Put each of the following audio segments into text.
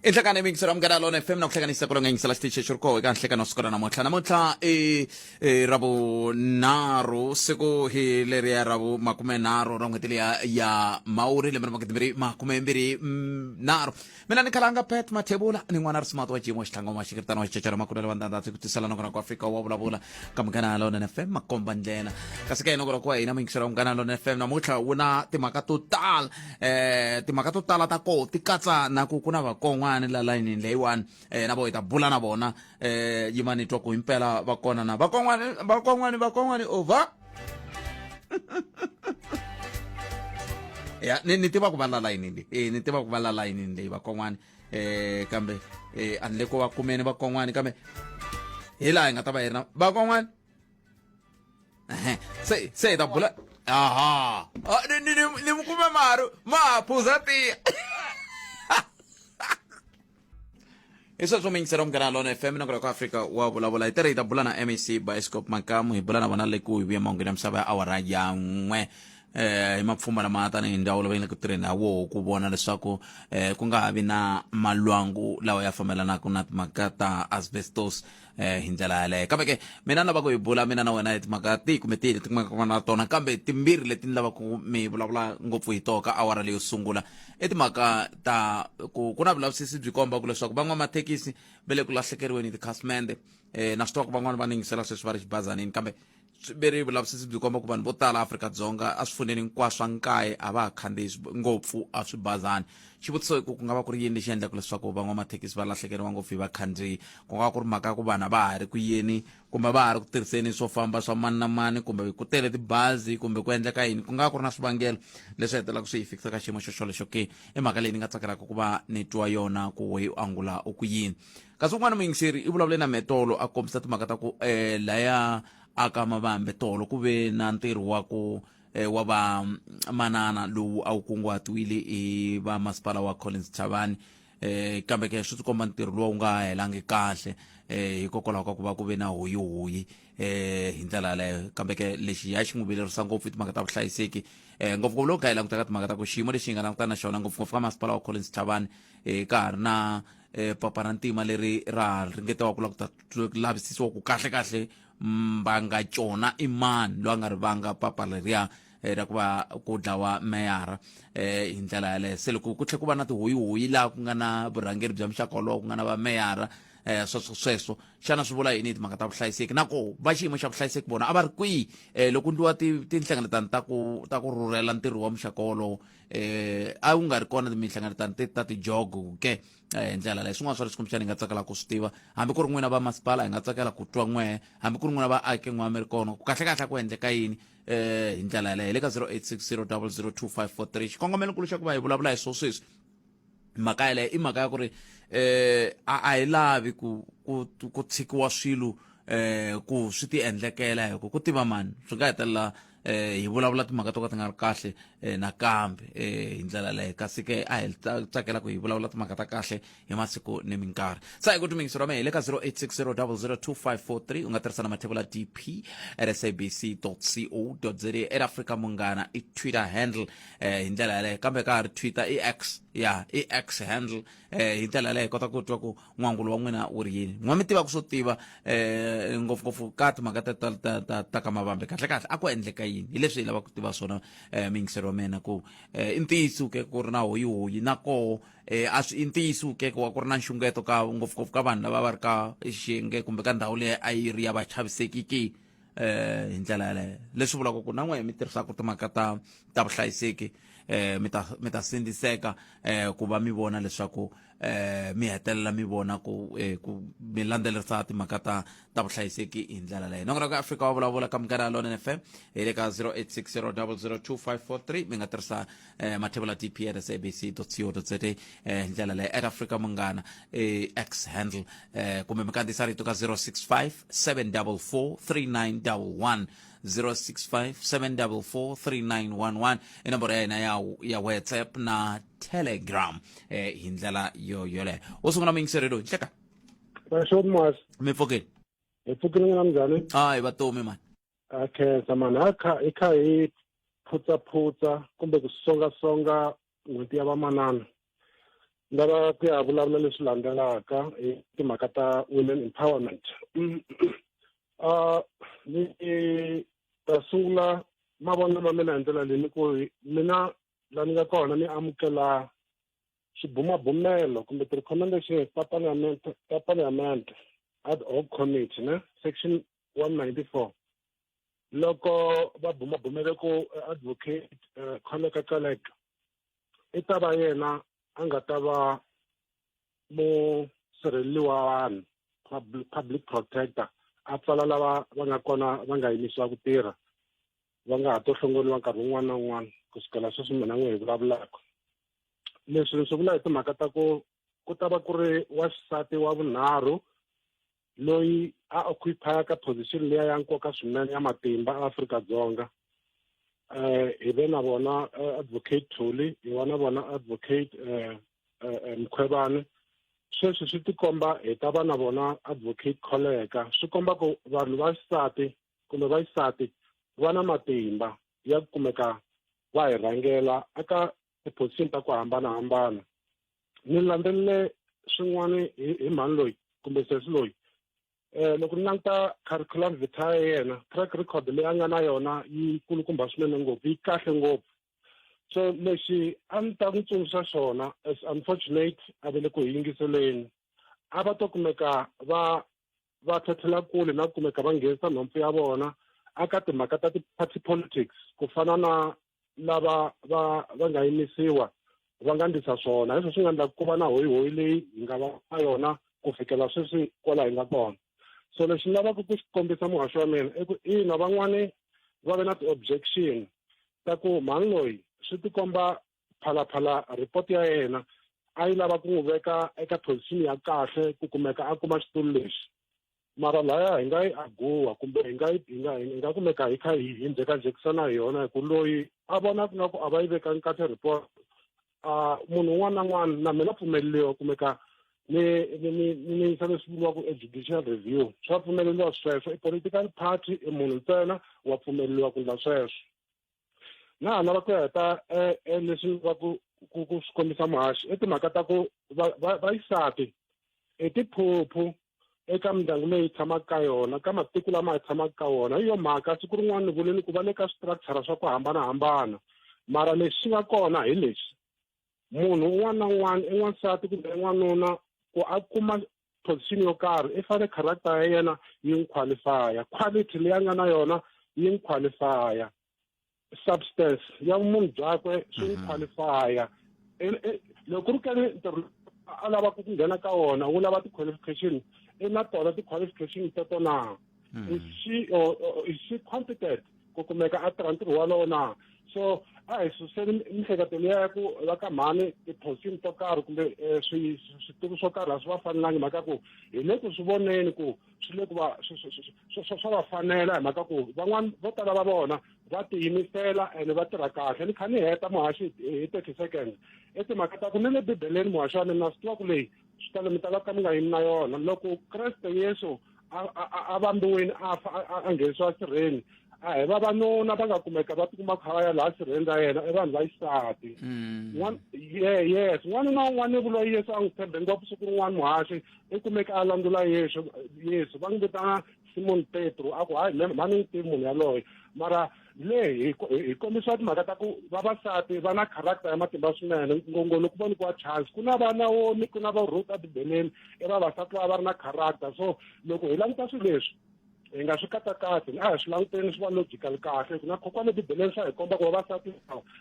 inhlekana yingiselo amukela lona fm na ku hlekanisa ku longa yingisela xitichi xi ri koho eka nhlekano siku ra namuntlha namuntlha i i ravunharhu siku hi leriya ra vu makumenharhu ra n'hweti leya ya mawuri lembe ra magidi mbirhi makume mbirhi mm, nharhu mina ni khalanga pet mathebula ni n'wana ri smart wa jimo xitlhanga wa xikiritana wa xicecela makulelo wa ndandatsi ku tisela nakona ku afrika wa vulavula ka munghana lona fm makomba ndlela kasi ka hina ku rakuwa hina muyingisela wa munghana lona fm namuntlha wu na timhaka to tala um timhaka to tala ta koho ti katsa na ku ku na vakon'wana la layinini leyiwani um na vo hi ta bula na vona eh, yimani twa ku himpela vakonana vakon'wani vakon'wani vakon'wani over ya ni ni tiva ku va la layinini e ni tiva ku va la layinini leyi vakon'wani eh kambe eh a ni le ko va kumeni vakon'wani kambe hi laha hi nga ta va hi ri na vakon'wani Ehe, se se hi ta bula aha Ah, ni- ni ni- ni mi kume maru ma ha phuza tiya i sweswo mingisera munghana lona fm na ku afrika wa vulavula hi tirhita bula na mac bioscope makamu hi bula na vona le ku hi vuya mahungeni ya misava ya awara ya n'we eh hi mapfhumba lama tanihi ndhawu lava yi nga ku tirheni ha woho ku vona leswaku eh ku nga ha vi na malwangu lawa ya fambelanaka na timhaka ta asbestos eh hi ndlela yaleyo kambe ke mina ni lava ku hi bula mina na wena hi timhaka tihi kumbe tihi leti kumaka na tona kambe timbirhi leti ni lava ku mi vulavula ngopfu hi toka awara leyo sungula i timhaka ta ku ku na vulavisisi byi komba ku leswaku van'wamathekisi va le ku lahlekeriweni hi tikhasimende um na swi tiva ku van'wani va ningisela sweswi va ri xibazanini kambe veri vulavisisi byi komba ku vanhu vo tala afrika-dzonga a swifuneni hinkwaswo swa nkaye a va ha khandziyi ngopfu a swi bazani xivutiso i ku ku nga va ku ri yini lexi endlaka leswaku van'wamathekisi va lahlekeriwa ngopfu hi vakhandziyi ku nga va ku ri mhaka ya ku vanhu a va ha ri ku yeni kumbe va ha ri ku tirhiseni swo famba swa mani na mani kumbe ku tele tibazi kumbe ku endleka yini ku nga ku ri na swivangelo leswi hetelaka swi hi fikisa ka xiyimo xo xolexo ke i mhaka leyi ni nga tsakelaka ku va ni twa yona ku we u angula u ku yini kasi un'wana muyingiseri i vulavule na metolo a kombisa timhaka ta ku um laya aka mavambe tolo ku ve na ntirho wa ku eh, wa va mm, manana lowu a wu kunguhatiwile hi va masipala wa collins chavani eh kambe ke swi tikomba ntirho lowu nga helangi kahle eh hikokwalaho ka ku va ku ve na hoyi hoyi eh hi ndlela yaleyo kambe ke lexi ya xi n'wi vilerisa ngopfu i timhaka ta vuhlayiseki eh ngopfungopfu loko ka hi langutaka timhaka ta ku xiyimo lexi hi nga langutana na xona ngopfungopfu ka masipala wa collins chavani eh ka ha ri na eh, papa ra ntima leri ra ringetiwa ku la ku ta lavisisiwa ku kahle kahle mbanga cona i mani loyi a nga ri vanga papa leriya eh, ra ku va ku dlawa meyara eh, hi ndlela yaleyo se loko ku tlhe ku va na tihoyihoyi laha ku nga na vurhangeri bya muxaka wolowo ku nga na vameyara eh sweswo sweswo xana swi vula yini hi timhaka ta vuhlayiseki na ko va xiyimo xa vuhlayiseki vona a va ri kwihi eh loko ndliwa ti- tinhlengeletano ta ku ta ku rhurhela ntirho wa muxaka wolowo eh a wu nga ri kona minhlangano ta ta tijogo ke hi ndlela leyi swin'wana swa leswi kumbexana hi nga tsakela ku swi tiva hambi ku ri n'wina va masipala hi nga tsakela ku twa n'wehe hambi ku ri n'wina vaaki n'we mi ri kona ku kahlekahle ku endleka yini um hi ndlela yaleyo hi le ka 0860 002 543 xikongomelo nkulu xa ku va hi vulavula hi swo sweswi mhaka yaleyo i mhaka ya ku ri eh a a hi lavi ku ku ku tshikiwa swilo eh ku swi ti endlekela hi ku ku tiva mani swi nga hetelela eh hi vulavula timhaka to ka ti nga ri kahle eh, nakambe eh hi ndlela leyo kasi ke a hi tsakela ku hi vulavula timhaka ta kahle hi masiku ni minkarhi sa hi ku tumingiso ra mehe le ka 0860002543 u nga tirhisa na mathevula dp at sabc co za at africa munghana i twitter handle eh, hi ndlela yaleyo kambe ka ha ri twitter i x ya i x handle eh, hi ndlela yaleyo hi kota ku twa ku n'wangulo wa n'wina wu ri yini n'wa mi tiva ku swo tiva eh, ngopfungopfu ka timhaka ta, ta, ta, ta, ta ka mavambe kahle kahle a ku endleka yini hi leswi hi lavaka ku tiva swona eh, miyingiseri wa mina ku eh, i ntiyiso ke ku ri na hoyihoyi na koho eh, a swi i ntiyiso ke wa ku ri na nxungeto ka ngopfungopfu ka vanhu lava va ri ka xiyenge kumbe ka ndhawu leyi a yi ri ya vachavisekiki eh hi ndlela yaleyo leswi vulaka ku na n'we mi tirhisaka timhaka ta ta vuhlayiseki eh mi ta mi ta sindziseka eh ku va mi vona leswaku eh mi hetelela mi vona ku eh ku mi landzelerisa timhaka ta ta vuhlayiseki hi ndlela leyo nongo ka Afrika wa vulavula ka mugara lona FM hi le ka 0860002543 mi nga tirhisa eh, mathevula tp at sabc co za eh, hi ndlela leyi at africa munghana eh, x handle eh, kumbe mi kandziyisa rito ka 065 744 3911 065 744 3911 i nomboro ya hina ya, ya whatsapp na telegram eh, hi ndlela yo yoleyo wo sungula muyingiserelo hi nhleka Mashoni Mas, mi pfukile hi pfukile n'wina mnjhani? hayi vatomi mani ha khensa mani ha kha hi kha hi phutsaphutsa kumbe ku songasonga n'hweti ya vamanana ni lava ku ya vulavula leswi landzelaka hi timhaka ta women empowerment ni ta sungula mavonelo ma mina hi ndlela leyi ni ku mina la ni nga kona ni amukela swibumabumelo kumbe ti-recommendations ta parliament ta parliament ad hoc committee ne section 194 loko va bumabumele ku eh, advocate uh, eh, Kholeka Caleka i ta va yena a nga ta va musirheleli wa vanhu public protector a pfala lava va nga kona va nga yimisiwa ku tirha va nga ha to hlongoriwa nkarhi wun'wana na wun'wana ku sukela sweswi mina n'we hi vulavulaka leswi ni swi vula hi timhaka ta ku ku ta va ku ri waxisati wa vunharhu loyi a occupyaka position leya ya nkoka swinene ya matimba Afrika-Dzonga eh hi ve na vona eh, advocate Thuli hi va na vona advocate eh, eh, eh Mkhwebane sweswi swi tikomba hi ta va na vona advocate Kholeka swi komba ku vanhu va xisati kumbe va xisati va na matimba ya ku kumeka va hi rhangela eka tiphosini ta ku hambanahambana ni landzelele swin'wana hi hi mhani loyi kumbe sesi loyi um loko ni languta curriculum vita ya yena track record leyi a nga na yona yi kulukumba swinene ngopfu yi kahle ngopfu so lexi a ni ta n'wi tsundzuxa xona as unfortunate a ve le ku hi yingiseleni a va to kumeka va va tlhatlhela kule na kumeka va nghenisa nhompfu ya vona aka timhaka ta ti-party politics ku fana na lava va va nga yimisiwa va nga ndlisa swona leswo swi nga endla ku va na hoyihoyi leyi hi nga va na yona ku fikela sweswi kwala hi nga kona so lexi ni lavaka ku xi kombisa muhaxi wa mina i ku ina van'wani va ve na ti-objection ta ku mhani loyi swi tikomba phalaphala report ya yena a yi lava ku n'wi veka eka position ya kahle ku kumeka a kuma xitulu lexi mara laya hi nga yi aguwa kumbe hi nga yi hi nga hi nga kumeka hi kha hi hi njhekanjhekisana hi yona hi ku loyi a vona ku nga ku a va yi vekanga kahle report a munhu un'wana na un'wana na mina pfumeleriwa kumeka ni ni ni ni yisa leswi vuriwaka e judicial review swa pfumeleriwa sweswo i political party i munhu ntsena wa pfumeleriwa ku endla sweswo na ha lava ku ya heta eh, eh, leswi va ku ku ku swi kombisa muhaxi i timhaka ta ku va- va- vayisati i tiphuphu eka mindyangu leyi hi tshamaka ka yona ka matiko lama hi tshamaka ka wona hi yo mhaka siku rin'wana ni vule ni ku va le ka structure swa ku hambanahambana mara lexi xi nga kona hi lexi munhu un'wana na un'wana i n'wansati kumbe i n'wanuna ku a kuma position yo karhi i fanele character ya yena yi n'wi qualifya quality leyi a nga na yona yi n'wi qualifya substance ya vumunhu byakwe swi n'wi mhm. qualifya e, e, loko ku ri kani ntirho a lavaka ku nghena ka wona wu lava ti-qualification i na tona ti-qualification teto na mhm. is she competent ku kumeka a tirha ntirho walowo na so a hi suseni miehleketo liya ya ku va ka mhani tiphosini to karhi kumbe eh, switulu swo karhi a swi va fanelangi mhaka ku hi le ku swi voneni ku swi le ku va swa va fanela hi mhaka ku van'wana vo tala va vona va tiyimisela ene va tirha kahle ni kha ni heta muhaxi hi thirty seconds i timhaka ta ku ni le bibeleni muhaxi wa mina swi tiva ku leyi xitalo mi ta va ka mi nga yimi na yona loko kreste yesu a vambiwini a fa a nghenisiwa sirheni a hi vavanuna va nga kumeka va tikuma kha va ya laha sirheni ra yena i vanhu va xisati mm. ye yes n'wana na un'wana ni vuloyi yesu a n'wi tshembe ngopfu siku rin'wana muhaxi i kumeka a landzula yesu yesu va n'wi vitana simoni petro a ku hayi mhani n'wi tivi munhu yaloye mara leyi hi kombisiwa timhaka ta ku vavasati va na character ya matimba swinene ngongoni loko va nyikiwa chance ku na va naomi ku na va ruth ebibeleni i vavasati lava va ri na character so loko hi languta swilo leswi hi nga swi katsakatsi a hi swi languteni swi va logical kahle ku na kokwana ebibeleni swa hi komba ku vavasati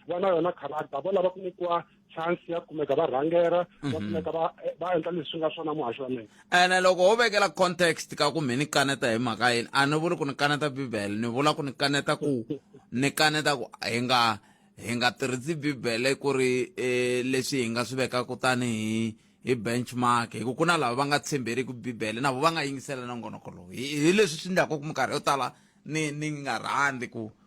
va na yona character vo lava ku nyikiwa chance ya kumeka va rhangera va mhm. kumeka va va endla leswi nga swona muhaxi wa mina ene loko ho vekela context ka ku mi ni kaneta hi mhaka yini a ni vuli ku ni kaneta bibele ni vula ku ni kaneta ku ni kaneta ku hi nga hi nga tirhisi bibele ku ri um leswi hi nga swi veka kutani hi hi benchmark hi ku ku na lava va nga tshemberiki bibele na vo va nga yingisela nongonoko lowu hi leswi swi endlaka ku minkarhi yo tala ni ni nga rhandzi ku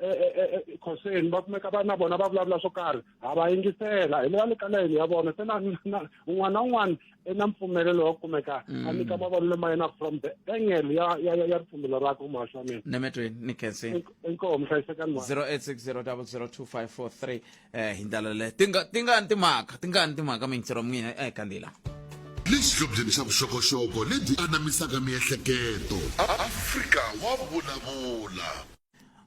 ekhoseni e, e, e, va kumeka va na vona va vulavula swo karhi ha va yingisela hi le va le ka layeni ya vona se na un'wana na un'wana i na mpfumelelo wa ku kumeka mm. a nyika mavonelo ma yena from the angle ya ya ya ripfumelo rakwe umahasi wa mina ni mitweni ni khensini inkoho muhlayisekani mwa 0860002543 eh hi ndlela leyo tinga tingani timhaka tingani timhaka mintsiro mina eh kandila lexihlobyeni xa vuxokoxoko lebyi anamisaka miehleketo afrika wa vulavula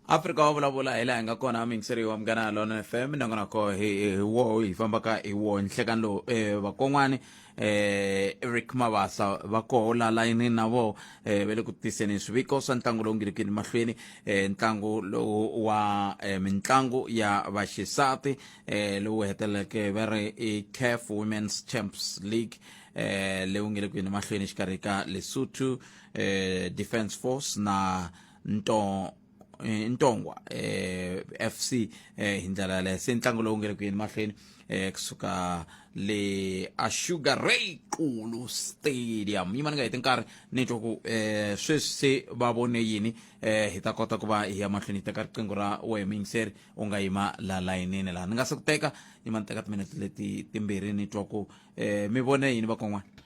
afrika wa vulavula hi laha hi nga kona mingiseriwa munghana lona fm nangonako hi hi wo hi fambaka hi wo nhlekan lowu um vakon'wani eh eric mabasa va koho la layinini na vo eh ve le ku tiseni swiviko swa ntlangu lowu ngilikini mahlweni eh ntlangu lowu wa eh, mitlangu ya vaxisati eh lowu heteleleke va ri i caf women's champs league eh lewu nge le ku yini mahlweni exikarhi ka lesotho eh defence force na nto eh, ntongwa eh, fc eh, hi ndlela yaleyo se ntlangu lowu nge le ku yeni mahlweni eh, kusuka le ashuga ray qulu stadium yimani nga heti nkarhi ni twa ku eh, sweswi se va vone yini eh, hi ta kota ku va hi ya mahlweni hi teka riqingho ra wehe muyingiseri u nga yima la layinini laha ni nga se ku teka yima ni teka timinete leti timbirhi ni twa ku eh, mi vone yini vakon'wana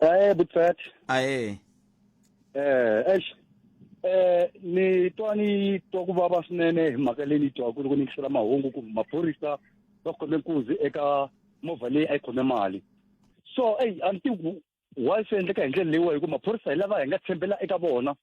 Eh butfat. aye Eh eish. Eh ni twa ni twa ku vava swinene hi mhaka leyi ni twa ku loko ni yingisela mahungu ku maphorisa va khome nkuzi eka movha leyi a yi khome mali. So eyi a ni tivi ku why swi endleka hi ndlela leyiwa hi ku maphorisa hi lava hi nga tshembela eka vona.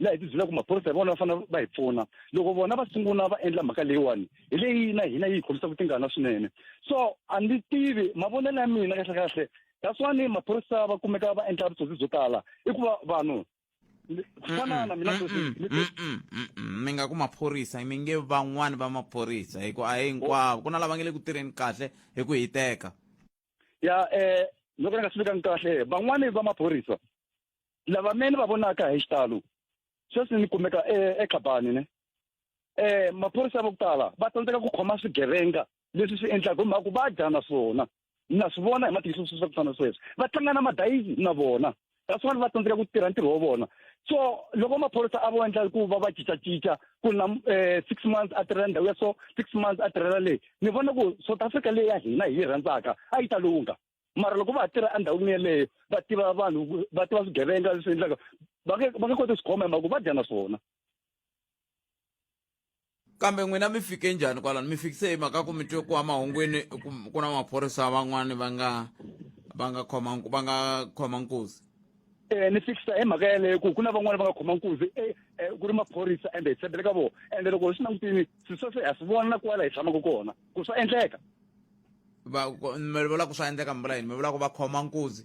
laha hi ti byelaka maphorisa hi vona va fanele va hi pfuna loko vona va sungula va endla mhaka leyiwani hi leyi na hina yi hi khomisaka tingana swinene so a ndzi tivi mavonelo ya mina kahle kahle that's why ni maphorisa va kumeka va endla vutsotsi byo tala i ku va vanhu ku fana na mina mi nga ku maphorisa mi nge van'wani va maphorisa hi ku a hi hinkwavo ku na lava nge le ku tirheni kahle hi ku hiteka ya um loko ni nga swi vikangi kahle van'wani va maphorisa lava me ni va vonaka hi xitalo sweswi ni kumeka e, exabani ne um maphorisa va ku tala va tsandzeka ku khoma swigevenga leswi swi endlaka hi mhaka ku va dya na swona na swi vona hi matihlo swi swa ku fana sweswi va tlanga na madayisi na vona that's why va tsandzeka ku tirha ntirho wa vona so loko maphorisa a vo endla ku va va cincacinca ku na um six months a tirhela ndhawu ya so six months a tirhela leyi ni vona ku south africa leyi ya hina hi yi rhandzaka a yi ta lungha mara loko va tirha endhawini yeleyo va tiva vanhu va tiva swigevenga leswi endlaka va nge va nge koti swi khoma hi mhaka ku va dya na swona kambe n'wina mi fike njhani kwalano mi fikise hi mhaka ku mi twe ku wa mahungwini ku na maphorisa van'wani va nga va nga khoma va nga khoma nkuzi um ni fikisa hi mhaka yeleyo ku ku na van'wani va nga khoma nkuzi e, e, ku ri maphorisa ende hi tshembele ka vona ende loko hi swi langutini swi sweswe ha swi vona na kwala hi tshamaka kona ku swa endleka va ku- mi vula ku swa endleka mi vula yini mi vula ku va khoma nkuzi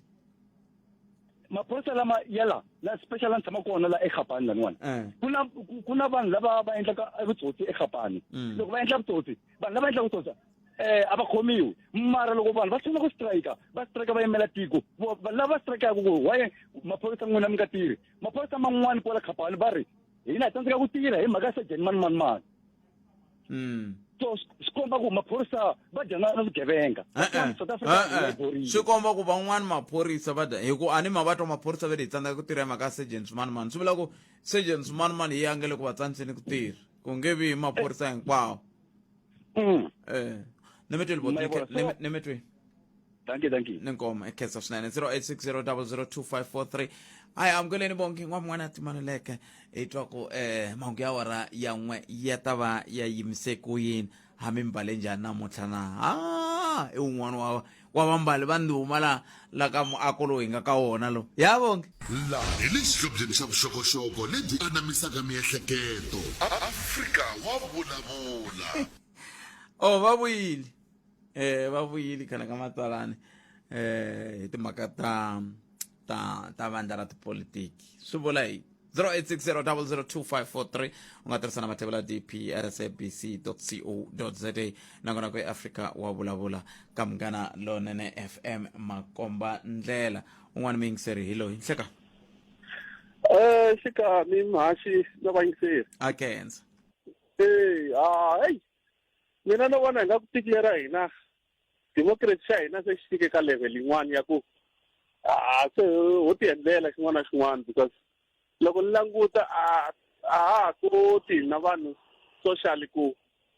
maphorisa lama yala la special a ni tshama kona la ekhapani laniwani Eh. ku na ku- ku na vanhu lava va endlaka vutsotsi ekhapani Mm. loko va endla vutsotsi vanhu lava endlaka vutsotsi eh a va khomiwi mara loko vanhu va sungula ku strike va strike va yimela tiko Vo- va- lava strikaka ku why maphorisa n'wina mi nga tirhi maphorisa man'wani kwala khapani va ri hina hi tsandzeka ku tirha hi mhaka ya sajeni mani mani mani mm. so swi komba ku maphorisa va dyana na vugevenga swi komba ku van'wani maphorisa va dya hikuva a ni ma va twa maphorisa va le hi tsandzeka ku tirha hi mhaka ya surgeon swimanimani swi vula ku surgeon swimanimani yi angele ku va tsandzeni ku tirha ku nge vi maphorisa hinkwawo mm. eh. ni mi tweli ni mi tweli thank you thank you nenkomo ekhetsa swinene 0860002543 hayi amukeleni vonke n'wana n'wana timaneleke hi twa ku eh mahungu ya wara ya n'we ya ta va ya yimise ku yini hambi mbale njhani namuntlha na ha i wun'wana wa wa vambali va ndhuma la la ka muako lowu hi nga ka wona lo ya vonke laha hi le xihlobyeni xa vuxokoxoko lebyi anamisaka miehleketo afrika wa vulavula o va vuyile eh va vuyile khale ka matsalani eh hi timhaka ta ta ta vandla ra tipolitiki swi vula yini 0860002543 u nga tirhisa na mathevela dp rsabc co za nakona ku eafrika wa vulavula ka munghana lonene fm makomba ndlela un'wana muyingiseri hi loyi nhleka Eh xikami mhaxi na vayingiseri. A Kenza. Eh ha hey Mina no vona hi nga ku tiko lera hina democracy xa hina se xi fike ka level yin'wana ya ku a se ho ti endlela xin'wana na xin'wana because loko ni languta a a ha ha koti hina vanhu social ku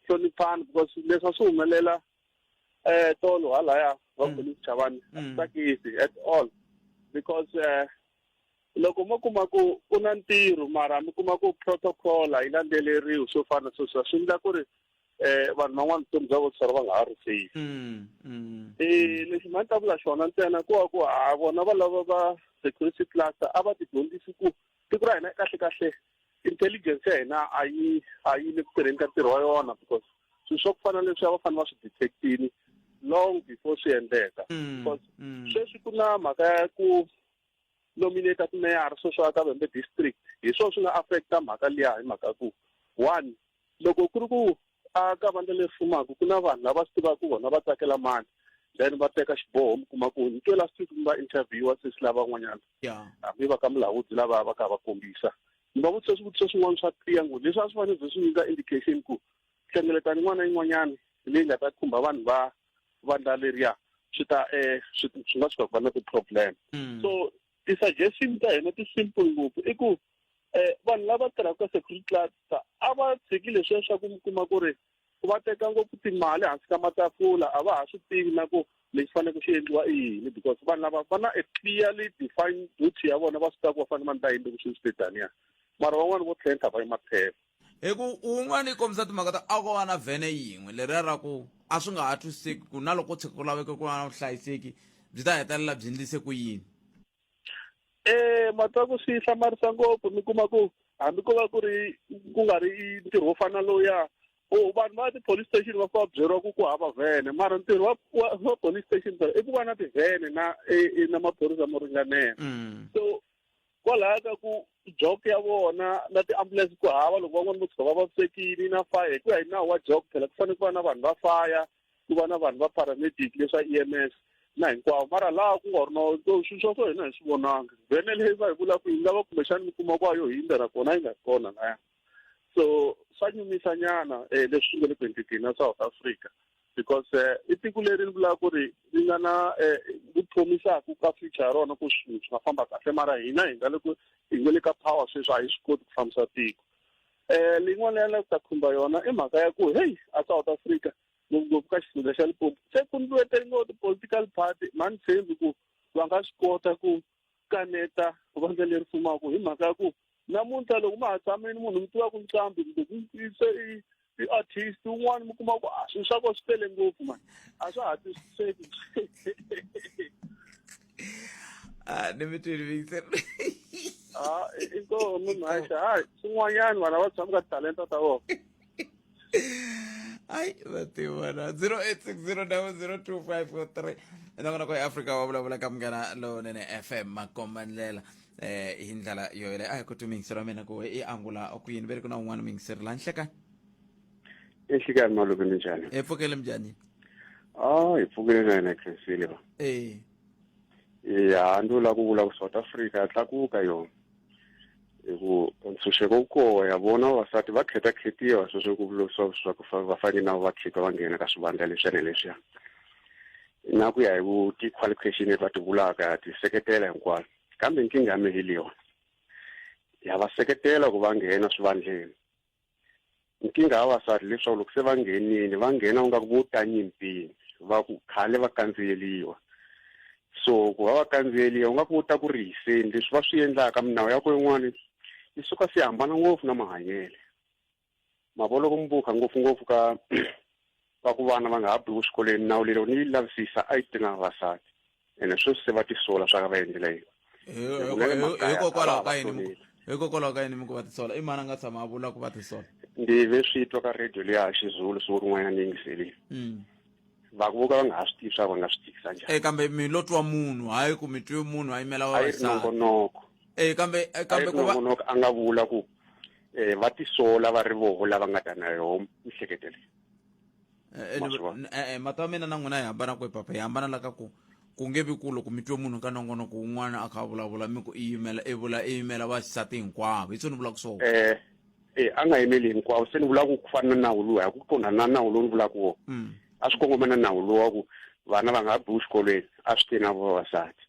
hloniphana because leswi a swi humelela um tolo halaya va Chavani a swi tsakisi at all because um loko mo kuma ku ku na ntirho mara mi kuma ku protocol a yi landzeleriwi swo fana swo swa swi endla ku ri eh vanhu van'wana vutomi bya vona va nga ha ri safe mm, mm, eh lexi mhani ta vula xona ntsena ku wa ku a vona va lava va security class a va tidyondzisi ku siku ra hina kahle kahle intelligence ya hina a yi a yi le ku tirheni ka ntirho wa yona because swilo swa ku fana leswi a va fanele va swi detectini long before swi endleka mm, because mm. sweswi ku na mhaka ya ku nominate kumeyara sweswo a ka vembe district hi swona swi nga affecta mhaka liya hi mhaka ku one loko ku ri ku a ka vandla leri fumaka ku na vanhu lava swi tivaka ku vona va tsakela mani then va teka xiboho mi kuma ku ni twela siku mi va interviewa sesi lava van'wanyana hambi va ka mulahudzi lava va ka va kombisa ni va vutisa swivutiso swin'wana swa tiya ngo leswi a swi fanele byi swi nyika indication ku hlengeletani n'wana yin'wanyana leyi nga ta khumba vanhu va vandla leriya swi ta um swi nga suka ku va na ti-problem mm. so ti-suggestion ta hina ti-simple ngopfu i ku um vanhu lava tirhaka ka security class a va tshiki leswi ya swa ku mi kuma ku ri va teka ngopfu timali hansi ka matafula a va ha swi tivi na ku lexi fanele ku xi endliwa i yini because vanhu lava va na a clearly defined duty ya vona va swi tiva ku va fanele va ni ta yini loko swi swi taniya mara van'wani vo tlhentlha va yi maphepha hi ku un'wana yi kombisa timhaka ta a ko va na vhene yin'we leriya ra ku a swi nga ha twisiseki ku na loko tshuka ku laveke ku va na vuhlayiseki byi ta hetelela byi endlise ku yini Eh matsaku swi hlamarisa ngopfu mi kuma ku hambi ko va ku ri ku nga ri ntirho wo fana lowuya o oh, vanhu va ti-police station va fika byeriwa ku ku hava vhene mara ntirho wa wa police station i ku va na tivhene na e, e, na maphorisa mo ringanela mm. so kwalaho ka ku jok ya vona na ti-ambulance ku hava loko van'wana vo tshuka va vavisekile na fire hi ku ya hi nawu wa jok phela ku fanele ku va na vanhu va fire ku va na vanhu va paramedic leswa EMS na hinkwavo mara laha ku nga ri no swilo swa swo hina hi swi vonanga vhene leyi va hi vula ku yi nga va kumbexani mi kuma kwa yo hindza na kona yi nga ri kona laya so swa nyumisa nyana um eh, leswi swi nga le ku endlekeni na south africa because eh, i tiko leri ri vulaka ku ri ri nga na ku eh, phomisaka ka future ya rona ku swilo swi nga famba kahle mara hina hi nga le ku hi nga le ka power sweswi a hi swi koti ku fambisa tiko um leyin'wana ya la ta khumba yona i mhaka ya ku heyi a south africa ngopfungopfu ka xifundza xa lipopo se ku ndlueteriwa ti-political party mani tshembi ku va nga swi kota ku kaneta vandla leri fumaka hi mhaka ya ku namuntlha loko ma ha tshamini munhu mi tiva ku nqambi kumbe se i i-artist un'wana mi kuma ku a ah, swilo swa ko swi tele ngopfu mani a swa ha twisiseki Ah, ni mi twile Victor. Ah, i- i koho munhu a xa hayi swin'wanyani vanhu a va tshami ka talenta ta vona Ai, va tivona. 0860002543. Na kona ko Africa wa vulavula ka munghana lowunene FM makombandlela. Eh, hi ndlela yo yeleyo. Ai, ku twi mingisero ya mina ku i angula ku yini. Ve ri ku na un'wana mingiseri la nhleka. exikarhi malume ni njhani hi pfukele mjani ah hi pfukile na yena khensile va eh ya ndo la ku vula ku South Africa ya tlakuka yona hi ku ntshunxeko wu koho ya vona vavasati va kheta khetiwa sweswo ku vulosiwa swa ku va fanele na va khika va nghena ka swivandla leswiya ni leswiya na ku ya hi ku ti-qualification leti va ti vulaka ti seketela hinkwayo kambe nkingha ya mihiliwa ya va seketela ku va nghena swivandleni nkingha ya vasati leswaku loko se va nghenile va nghena u nga ku vo tanyimpini va ku khale va kandziyeliwa so ku va va kandziyeliwa u nga ku ta ku ri hiseni leswi va swi endlaka minawu ya ko yin'wana yi suka se hambana ngopfu na mahanyele ma vo loko mi vukha ngopfungopfu ka va ku vana va nga ha biwi swikolweni nawu lelo ni yi lavisisa a yi tinganga vavasati ene sweswi se va tisola swa ka va endlela yini hikokwalaho ka yini hikokwalaho ka yini mi ku va tisola i mani a nga tshama a vula ku va tisola ndi ve swi twa ka radio leya ha xizulu siku rin'wanyana ni yingiselile mm. va ku voka va nga ha swi tivi swa va nga swi tikisa njhani e kambe mi lo twa munhu hayi ku mi twi munhu a yimela vavasatinongonoko e kambe e, kambe ku va a nga vula ku eh va tisola va ri voho lava nga ta na yoho mihleketeleni Eh, eh, Ma swi vona. n- eh, eh, mati ya mina na n'wina hi hambana kwe papa hi hambana la ka ku ku nge vi ku loko mi twe munhu ka nongonoko wun'wana a kha a vulavula mi ku i yimela i vula i yimela vaxisati hinkwavo hi tsho ni vulaka swona eh eh a nga yimeli hinkwawo se ni vulaka ku fana na nawu lowu hi ku qondana na nawu lowu ni vulaka wona Mm. a swi kongoma na nawu lowu wa ku vana va nga ha biwi xikolweni a swi te na vavasati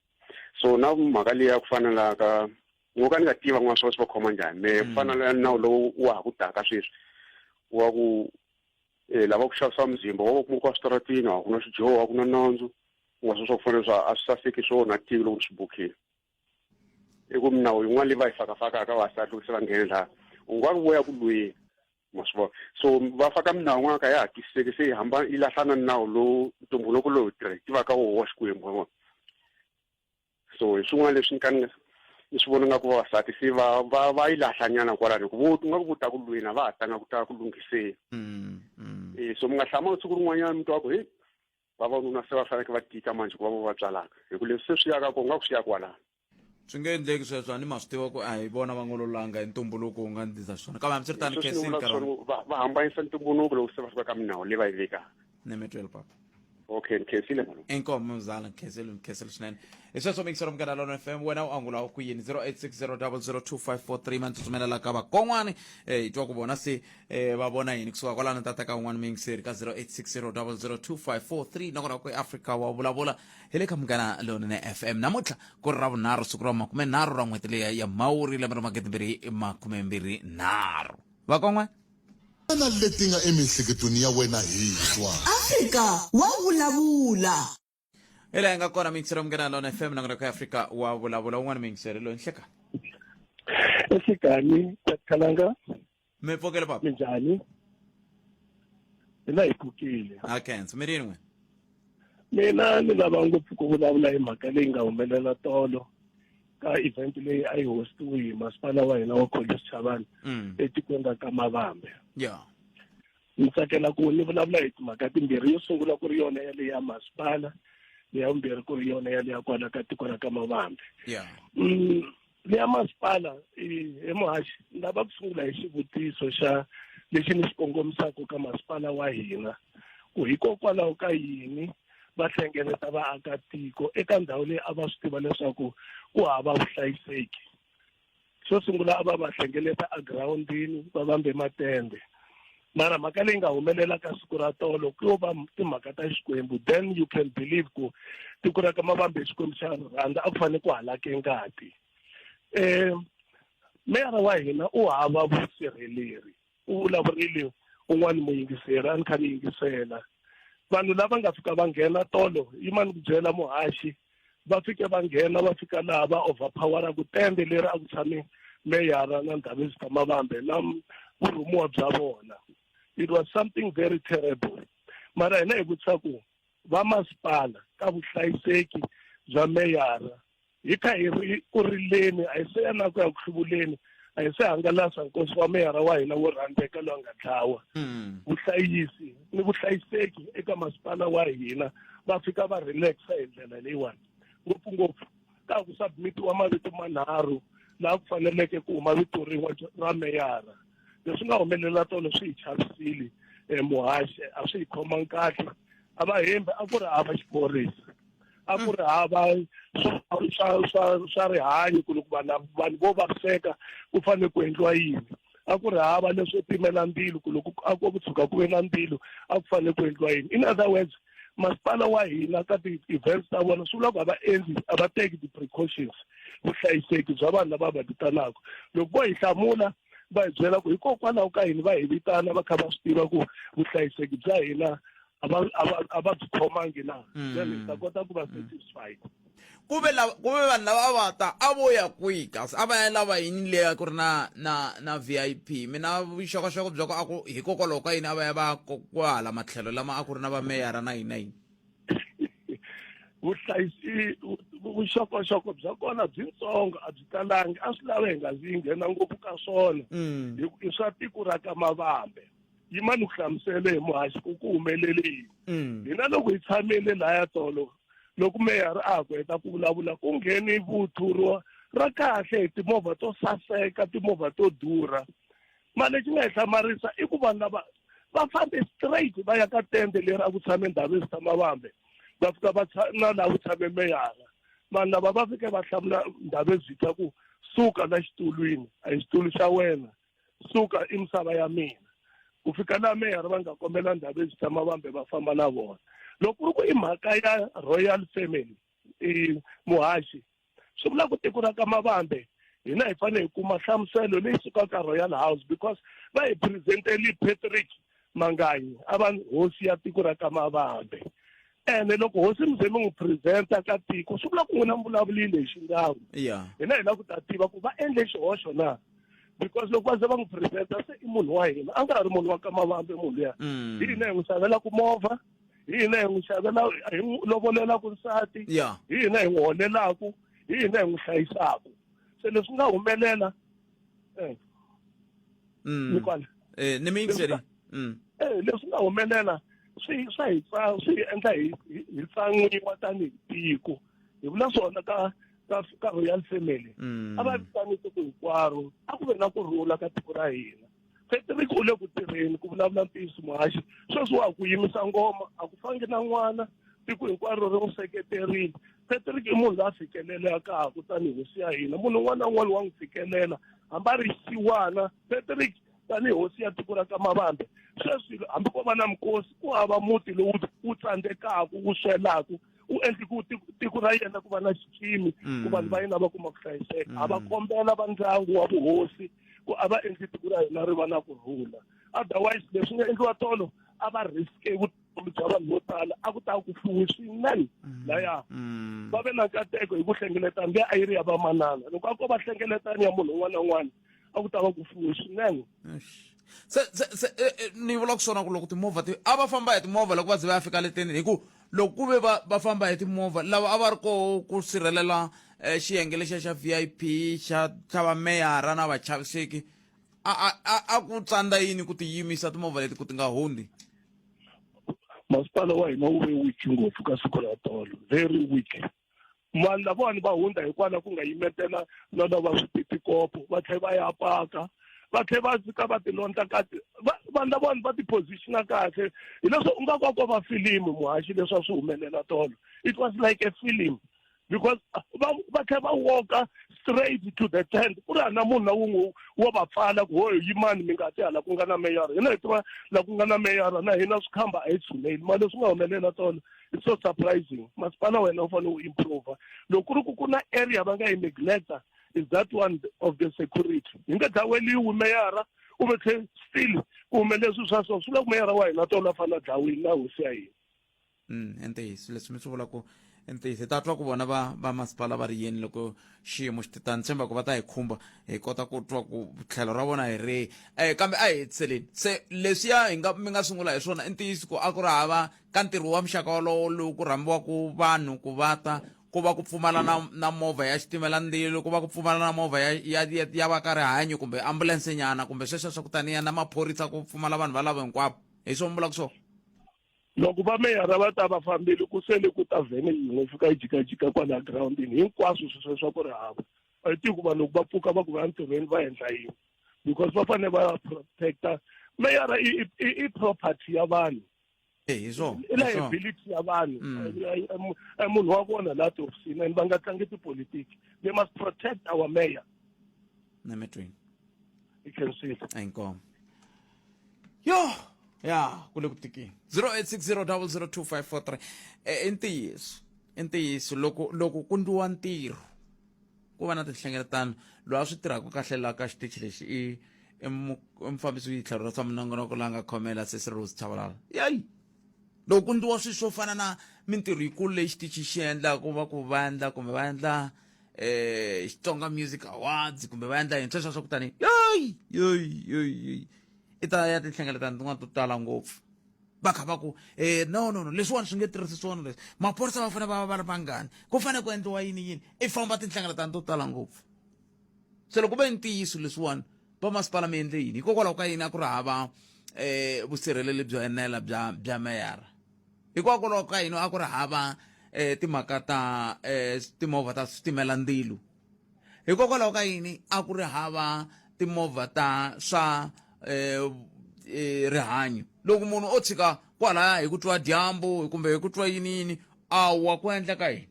so na mhaka leyi ya ku fana la ka ni ngo ka ni nga tiva n'wana swa swi va khoma njhani me ku mm. fana na nawu lowu wa ha ku taka sweswi wa ku um eh, lava ku xavisa muzimba wa va kuma ku wa switaratini wa ku na swijoho wa ku na nandzu u nga swa swa ku fanele swa a swi saseki swo na tivi loko ni swi bukhile i ku minawu yin'wana leyi va yi fakafaka ka vasati loko se va nghene laha u nga ku voya ku lweni ma swi vona so va faka minawu yin'wana ka ya ha twisiseki se yi hamba yi lahlana ni nawu lowu ntumbuluko lowu tirhe tivaka woho wa xikwembu wa vona so hi swin'wana leswi ni ka ni ni swi vona nga ku vavasati se va va va yi lahlanyana kwalani ku vo nga ku vo ta ku lweni a va ha tanga ku ta ku lunghiseni mm, mm. e so mi nga hlama siku rin'wanyana mi twa ku heyi vavanuna se va faneke va tika manje ku va vo va tswalaka hi ku leswi se swi yaka ko nga ku swi ya kwalani swi nge endleki sweswo a ni ma swi tiva ku a hi vona va ngololanga hi ntumbuluko wu nga ndzi ndza xiswona kambe hambi swi ri tani kesini va hambanyisa ntumbuluko loko se va fika ka minawu leyi va yi vekaka nemetwelo papa okay ndikhesile mani inkomo mzala ngikhesile ngikhesile swinene hi sweswo mikiselo mukana lona fm wena u angula wa ku yini 0860002543 ma ndzi tsumelela ka vakon'wani eh, hi twa ku vona se eh, va vona yini kusuka kwalano tata ka un'wana mingiseri ka 0860002543 nakona ku eafrika wa vulavula hi le ka mukana lonene fm namuntlha ku ri ravunharhu siku ra makume nharhu ra n'hweti leya ya mhawuri lembe ra magidi mbirhi makume mbirhi nharhu vakon'wana Xana leti nga emiehleketweni ya wena hi twa. Afrika wa vulavula. Hi laha hi nga kona mingiseri munghana lona FM nongonoko ya Afrika wa vulavula un'wana mingiseri loyi nhlekani. Ehlekani Khalanga. Mi pfukile papa. Minjhani? Hina hi pfukile. Ha khensa mi rin'we. Mina ni lava ngopfu ku vulavula hi mhaka leyi nga humelela tolo. ka event leyi a yi hostiwe hi masipala wa hina wa Khoza Sichavani Mm. etikweni ra Kamavambe Yeah. ni tsakela ku ni vulavula hi timhaka timbirhi yo sungula ku ri yona ya leyi ya masipala leya vumbirhi ku ri yona ya leya kwala ka tiko ra Kamavambe Yeah. Mm, leya masipala i- he muhaxi ni lava ku sungula hi xivutiso xa lexi ni xi kongomisaka ka masipala wa hina ku hikokwalaho ka yini va hlengeleta vaakatiko eka ndhawu leyi a va swi tiva leswaku ku hava vuhlayiseki xo sungula a va va hlengeleta egirawundini va vambe matende mara mhaka leyi nga humelela ka siku ra tolo ku yo va timhaka ta xikwembu then you can believe ku tiko ra ka mavambe hi xikwembu xa rhandza a ku fanele ku halake ngati um meyara wa hina u hava vusirheleri u vulavurile un'wana muyingiseri a ni kha ni yingisela vanhu lava nga fika va nghena tolo yi ma ni ku byela muhaxi va fike va nghena va fika laha va overpowera ku tende leri a ku tshame meyara na ndhavizi ta mavambe na vurhumiwa bya vona it was something very terrible mara hina hi vutisa ku vamasipala ka vuhlayiseki bya meyara hi kha hi ri ku rileni a hi se ya na ku ya ku hluvuleni a hi se hangalasa nkosi wa meyara wa hina wo rhandzeka loyi a nga dlawa hmm. vuhlayisi ni vuhlayiseki eka masipala wa hina va fika va relaxa hi ndlela leyiwani ngopfungopfu ka ku submitiwa mavito manharhu laha ku faneleke ku huma vito rin'we ra meyara leswi nga humelela tolo swi hi chavisile um muhaxe a swi hi khomangi kahle a va hembi a ku ri hava xiphorisa a ku ri hava swa swa swa rihanyo ku loko vanhu vanhu vo vaviseka ku fanele ku endliwa yini a ku ri hava leswo pimela ndzilo ku loko a ku tshuka ku ve na ndzilo a ku fanele ku endliwa yini in other words masipala wa hina ka ti-events ta vona swi vula ku a va endli a va teki ti-precautions vuhlayiseki bya vanhu lava va vitanaka loko vo hi hlamula va hi byela ku hikokwalaho ka yini va hi vitana va kha va swi tiva ku vuhlayiseki bya hina a va a va a va byi khomangi na Mm. then hi ta kota ku va satisfied ku ve lava ku ve vanhu lava a va ta a vo ya kwihi kasi a va ya lava yini leya ku ri na na na vip mina vuxokoxoko bya ku a ku hikokwalaho ka yini a va ya va ya ko- kwahala matlhelo lama a ku ri na vameyara na yini na yini vuhlayisi vu- vu- vuxokoxoko bya kona byitsongo a byi talangi a swi lava hi nga zi yi nghena ngopfu ka swona Mm. hi ku i swa tiko ra ka mavambe yima ni ku hlamusele hi muhaxi ku ku humelele yini mm. hina loko hi tshamile laya tolo loko meyara a ha ku heta ku vulavula ku ngheni vuthuriwa ra kahle hi timovha to saseka timovha to durha mali lexi nga hi hlamarisa i ku vanhu lava va fambe straight va ya ka tende leri a ku tshame ndhawu yo tshama vambe va fika va na laha ku tshame meyara vanhu lava va fike va hlamula ndhawu ezitha ku suka la xitulwini a hi xitulu xa wena suka i misava ya mina ku fika laha meyara va nga kombela ndhawu leswi tshama vambe va famba na vona loko ku ri ku i mhaka ya royal family i muhaxi swi vula ku tiko ra ka mavambe hina hi fanele hi kuma nhlamuselo leyi sukaka royal house because va hi presenteli patrick Manganyi a va hosi ya tiko ra ka Mavambe ene loko hosi mi ze mi n'wi presenta ka tiko swi vula ku n'wina mi vulavulile hi xingawu yeah hina hi lava ku ta tiva ku va endle xihoxo na because loko va ze va n'wi presenta se i munhu wa hina a nga ha ri munhu wa ka mavambe munhu luya Mm. hi hina hi n'wi xavelaka movha hi hina hi n'wi xavela hi n'wi lovolelaka nsati Yeah. hi hina hi n'wi holelaka hi hina hi n'wi hlayisaka se leswi nga humelela eh Mm. mi kwana Eh, ni mi yingiseri. Mm. eh leswi nga humelela swi swa hi tsa- swi hi endla hi hi- hi tsan'wiwa tanihi tiko hi vula swona ka ka ka royal family Mm. a va vitanisi ku hinkwaro a ku ve na ku rhula ka tiko ra hina Patrick u le ku tirheni ku vulavula ntiyiso muhaxi sweswi wa ku yimisa ngoma a ku fangi na n'wana tiko hinkwaro ri n'wi seketerile Patrick i munhu la fikelelaka kutani hosi ya hina munhu un'wana na un'wana wa n'wi fikelela hambi a ri xiwana Patrick tanihi hosi ya tiko ra ka mavambe sweswi hambi ko va na mikosi ku hava muti lowu wu tsandzekaka wu swelaka u endli ku tiko ra yena ku va na xikimi ku vanhu va yena va kuma ku hlayiseka a va kombela va ndyangu wa vuhosi ku a va endli tiko ra hina ri va na ku rhula otherwise leswi nga endliwa tolo a va riske vutomi bya vanhu vo tala a ku ta ku fuwe swinene laya va ve na nkateko hi ku hlengeleta mbe a yi ri ya vamanana loko a ko va hlengeletani ya munhu un'wana na un'wana a ku ta va ku fuwe swinene se se se eh, eh, ni vula ku swona ku loko timovha ti a va famba hi timovha loko va ze va ya fika leteni hi ku loko ku ve va va famba hi timovha lava a va ri koho ku sirhelela um eh, xiyenge lexiya xa v i p xa xa vameyara na vachaviseki a a a ku tsandza yini ku ti yimisa timovha leti ku ti nga hundzi masipala wa hina wu ve weak ngopfu ka siku ra tolo very weak vanhu lavawani va hundza hikwalaho ku nga yimetela no no va swipitikopo va tlhela va ya paka va tlhela va fika va tilondla kahle vanhu lavawani va tiphozixina kahle hileswo u nga kwakwa va filimu muhaxi leswi a swi humelela tolo it was like a film because va va tlhela va walka straight to the tent ku ri hana munhu na wun'we wo va pfala ku hoyo yimani mi nga ti hala ku nga na meyara hina hi tiva la ku nga na meyara na hina swikhamba a hi tshuneli mali leswi nga humelela tolo it's so surprising masipala wena u fanele u improva loko ku ri ku ku na area va nga yi negleta is that one of the security hi nga dlaweliwi meyara u ve tlhe still ku hume leswi swa so swi la ku meyara wa hina tona a fanele a dlawini na hosi ya hina mm i ntiyiso leswi mi swi vula ku i ntiyiso ta twa ku vona va va masipala va ri yini loko xiyimo xi titani tshemba ku va ta hi khumba hi kota ku twa ku tlhelo ra vona hi rihi um kambe a hi hetiseleni se leswiya hi nga mi nga sungula hi swona i ntiyiso ku a ku ri hava Ka ntirho wa muxaka wolowo lowu ku rhambiwaka vanhu ku va ta ku va ku pfumala na na movha ya xitimela ndzilo ku va ku pfumala na movha ya ya ya, ya va ka rihanyo kumbe ambulense nyana kumbe sweswo swa ku taniya na maphorisa ku pfumala vanhu valavo hinkwavo hi swo mi vulaka swona loko va meyara va ta va fambile ku sele ku ta vhene yin'we fika yi jikajika kwala girawundini hinkwaswo sweswo swa ku ri hava a yi tivi ku vanhu loko va pfuka va ku va ya ntirhweni va endla yini because va fanele va protecta meyara i i- i property ya vanhu Eh, hi swona i liability ya vanhu mm. eh, eh, eh, munhu wa vona laha tihofisini and va nga tlangi tipolitiki they must protect our mayor nemetweni i can see inkomo yo ya ku le ku tikeni 0860002543 i ntiyiso i ntiyiso loko loko ku ndliwa ntirho ku va na tinhlengeletano loyi a swi tirhaka kahle laha ka xitichi lexi i i mufambisi witlhelo ra swa minongonoko la nga khomela sesi rose chavalala yayi loko ku ndliwa swilo swo fana na mintirho yikulu leyi xitichi xi endlaka ku va ku va endla kumbe va endla um xitsonga music awards kumbe va endla yini sweswo swa ku tani yoyi yoyi yoyi yoyi i ta ya tinhlengeletano tin'wana to tala ngopfu va kha va ku um no no no leswiwani swi nge tirhisi swona leswi maphorisa va fanele va va va ri vangani ku fanele ku endliwa yini yini i famba tinhlengeletano to tala ngopfu se loko va ntiyiso leswiwani va masipala mi endle yini hikokwalaho ka yini a ku ri hava um vusirheleli byo enela bya bya meyara hikokwalaho ka yini a ku ri hava um timhaka ta um timovha ta switimela ndzilo hikokwalaho ka yini a ku ri hava timovha ta swa um rihanyo loko munhu o tshika kwalaya hi ku twa dyambu kumbe hi ku twa yini yini a wa ku endla ka yini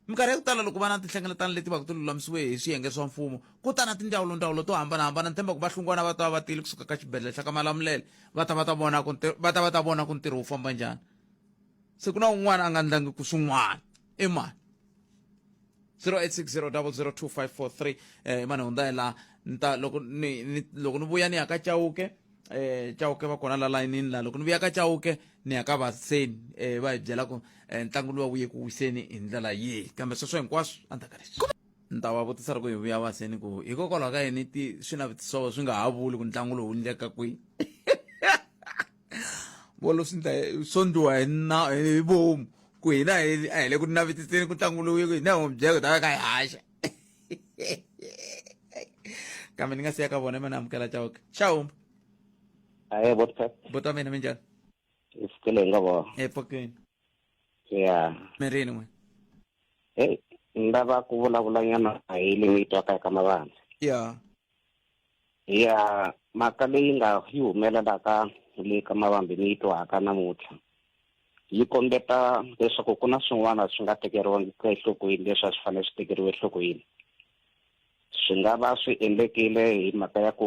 minkarhi ya ku tala loko va na tinhlengeletano leti va ku ti lulamisiwe hi swiyenge swa mfumo ku ta na tindzawulondzawulo to hambanahambana ntshemba ku va hlungwana va ta va va tile kusuka ka xibedhlele xa ka malamulele va ta va ta vona ku va ta va ta vona ku ntirho wu famba njhani se ku na un'wana a nga ndlangi ku swin'wana i mani 0860002543 eh, mane hundza hi laha ni ta loko ni, ni loko ni vuya ni ya ka chauke eh chauke va kona la layinini la loko ni vuya ka chauke ni ya ka vaseni eh va hi byela ku eh, ntlangu luwa wuye ku wiseni hi ndlela yihi kambe sweswo hinkwaswo a ndzaka leswi ni ta va vutisa loko hi vuya vaseni ku hikokwalaho ka yini ti swinavetiso swi nga ha vuli ku ntlangu lowu ndleka kwihi bolo swi ndla swo ndliwa hi na hi vomu ku hina a hi le ku navetiseni ku ntlangu lowu ku hina hi n'wi byela ku ta va ka hi haxa kambe ni nga siya ka vona i ma ni amukela chauke xawumba aye bota bota mina minjani hi pfukele hi nga vona epokeni ya mirini n'we heyi ni lava ku vulavulanyana hi leyi yi twaka eka mavandla ya ya mhaka leyi nga yi humelelaka le ka mavambi ni yi twaka namuntlha yi kombeta leswaku ku na swin'wana swi nga tekeriwangi ka enhlokweni leswi a swi fanele swi tekeriwe enhlokweni swi nga va swi endlekile hi mhaka ya ku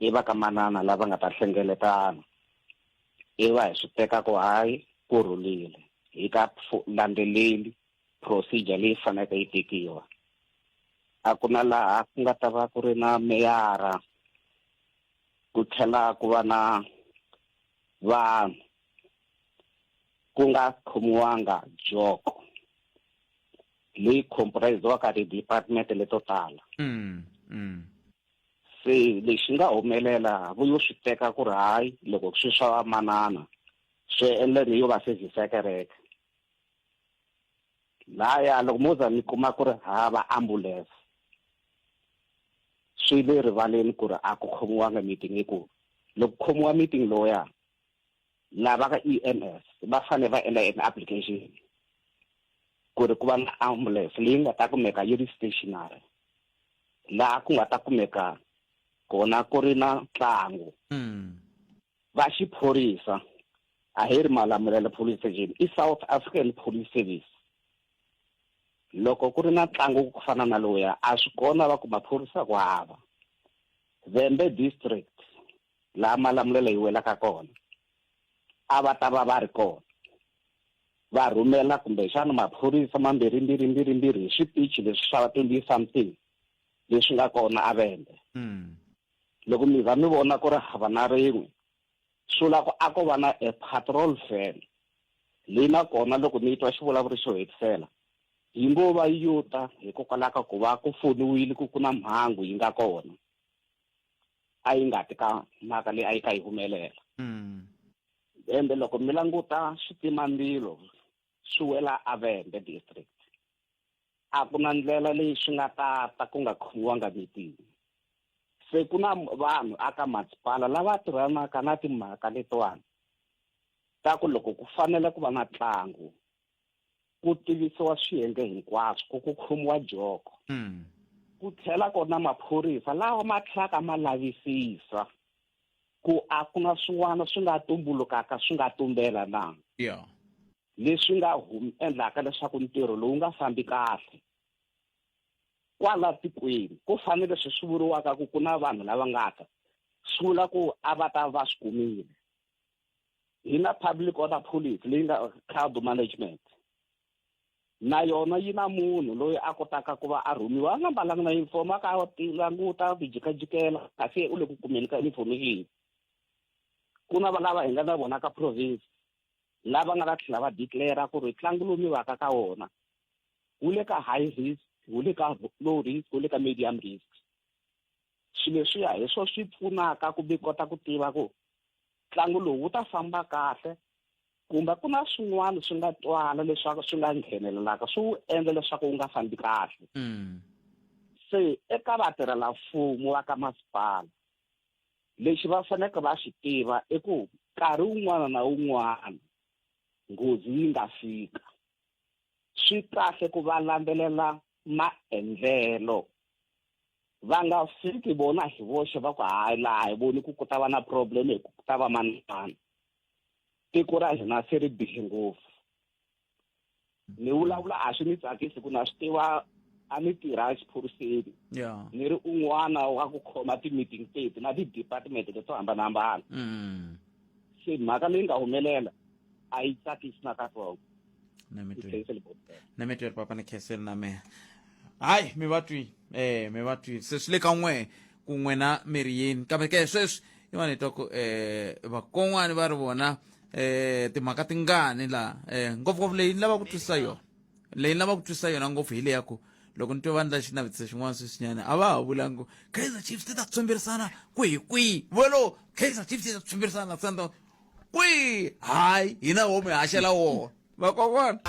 i va ka manana lava nga ta hlengeletana i va hi swi teka ku hayi ku rhulile hi ka landzeleli procedure leyi faneleke yi tekiwa a ku na laha ku nga ta va ku ri na meyara ku tlhela ku va na vanhu ku nga khomiwanga joko leyi comprise-waka ti-department leto tala mm, mm. se lexi nga humelela vuyo swi teka ku ri hayi loko swi swa vamanana swi endla ni yo va service ya kereke laya loko mo za mi kuma ku ri hava ambulance swi le rivaleni ku ri a ku khomiwanga meeting hi ku loko khomiwa meeting loya lava ka e m s va fanele va endla an application ku ri ku va na ambulance leyi nga ta kumeka yi ri stationary laha ku nga ta kumeka kona ku ri na ntlangu mm. va xiphorisa a hi ri malamulelo police station i south african police service loko ku ri na ntlangu ku fana na lowuya a swi kona va ku maphorisa ku hava vembe district laha malamulelo yi welaka kona a va ta va va ri kona va rhumela kumbexana maphorisa mambirhi mbirhi mbirhi mbirhi hi switichi leswi swa twenty something leswi nga kona a vembe mm. Loko mi za mi vona ku ri hava na rin'we, swi vula ku a ko va na a patrol van leyi na kona loko ni yi twa xi vulavuri xo hetisela yi ngo va yi yo ta hikokwalaho ka ku va ku foniwile ku ku na mhangu yi nga kona a yi nga ti ka mhaka leyi a yi ka yi humelela ende loko mi languta switimambilo swi wela avende district a ku na ndlela leyi swi nga ta ta ku nga khomiwanga meeting se ku na vanhu aka masipala lava tirhanaka na timhaka letiwani ta ku loko ku fanele ku va na ntlangu ku tivisiwa swiyenge hinkwaswo ku ku khomiwa joko hmm. ku tlhela kona maphorisa lawa ma tlhelaka ma lavisisa ku a ku na swin'wana swi nga tumbulukaka swi nga tumbela na yeah. leswi nga humi endlaka leswaku ntirho lowu nga fambi kahle kwala tikweni ku fanele leswi swi vuriwaka ku ku na vanhu lava nga ta swi vula ku a va ta va swi kumile hi na public order policy leyi nga crowd management na yona yi na munhu loyi a kotaka ku va a rhumiwa a nga mbalanga na uniform a ka languta ku jikajikela kasi u le ku kumeni ka information ku na valava hi nga na vona ka province lava nga ta tlhela va declara ku ri ntlangu lowu mi vaka ka wona wu le ka high risk wu le ka low risk wu le ka medium risk swilo leswiya hi swo swi pfunaka ku mi kota ku tiva ku ntlangu lowu wu ta famba kahle kumbe ku na swin'wana swi nga twala leswaku swi nga nghenelelaka swi wu endla leswaku wu nga fambi kahle mm. se eka vatirhelamfumo va ka masipala lexi va faneleke va xi tiva i ku nkarhi wun'wana na wun'wana nghozi yi nga fika swi kahle ku va landzelela maendlelo va nga fiki vona hi voxe va ku hayi laha hi voni ku ku ta va na problem hi ku ta va manimani tiko ra hina se ri bihe ngopfu ni vulavula a swi ni tsakisi ku na swi tiva a ni tirha exiphoriseni yeah. ni ri un'wana wa ku khoma ti-meeting teti na ti-department leto hambanahambana mm. se mhaka leyi nga humelela a yi tsakisi na katsongo na mitweri papa ni kheseli na mehe hayi mi va twi eh mi va twi se swi le ka n'we ku n'we na mi ri yini kambe ke sweswi i va ni twa ku eh vakon'wani va ri vona eh timhaka tingani laha eh ngopfungopfu leyi ni lava ku twisisa yona leyi ni lava ku twisisa yona ngopfu hi leya ku loko ni twe va ndla xinavetiso xin'wana sweswinyana a va ha vulangi kaizer chiefs ti ta tshwemberisana kwihi kwihi volo kaizer chiefs yi ta tshwemberisana na sundowns kwihi hayi hina wo mi haxela wona Vakokwani.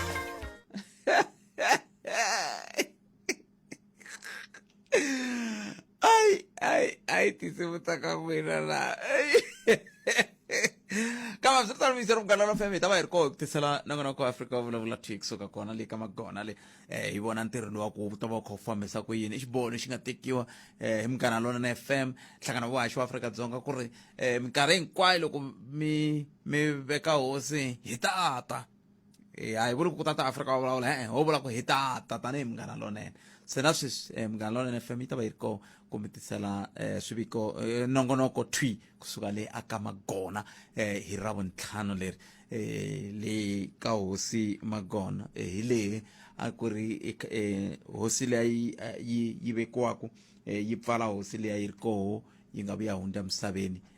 Ai, ai, ai, tinsimu ta ka n'wina laha. kambe swi ri tano mixo ri munghana lofm hi ta va hi ri koho hi ku tisela na n'wana wa ku afrika va vulavula thwi kusuka kona le ka magona le um hi vona ntirho lowa ku wu ta va wu kha wu fambisa ku yini i xiboho lexi nga tekiwa um hi munghana lona na fm nhlangano wa haxi wa afrika dzonga ku ri um minkarhi hinkwayo loko mi mi veka hosi hi tata e a hi vuli ku tata afrika wa vulavula e-e ho vula ku hi tata tanihi munghana lonene se na sweswi um munghana lonene fm yi ta va yi ri kona ku mi tisela um swiviko eh, nongonoko twi kusuka le a ka magona um hi ra vuntlhanu leri eh le ka hosi magona eh, hi lehe a ku ri um hosi leyi yi yi vekiwaku um yi pfala hosi leyi yi ri koho yi nga vuya hundza emisaveni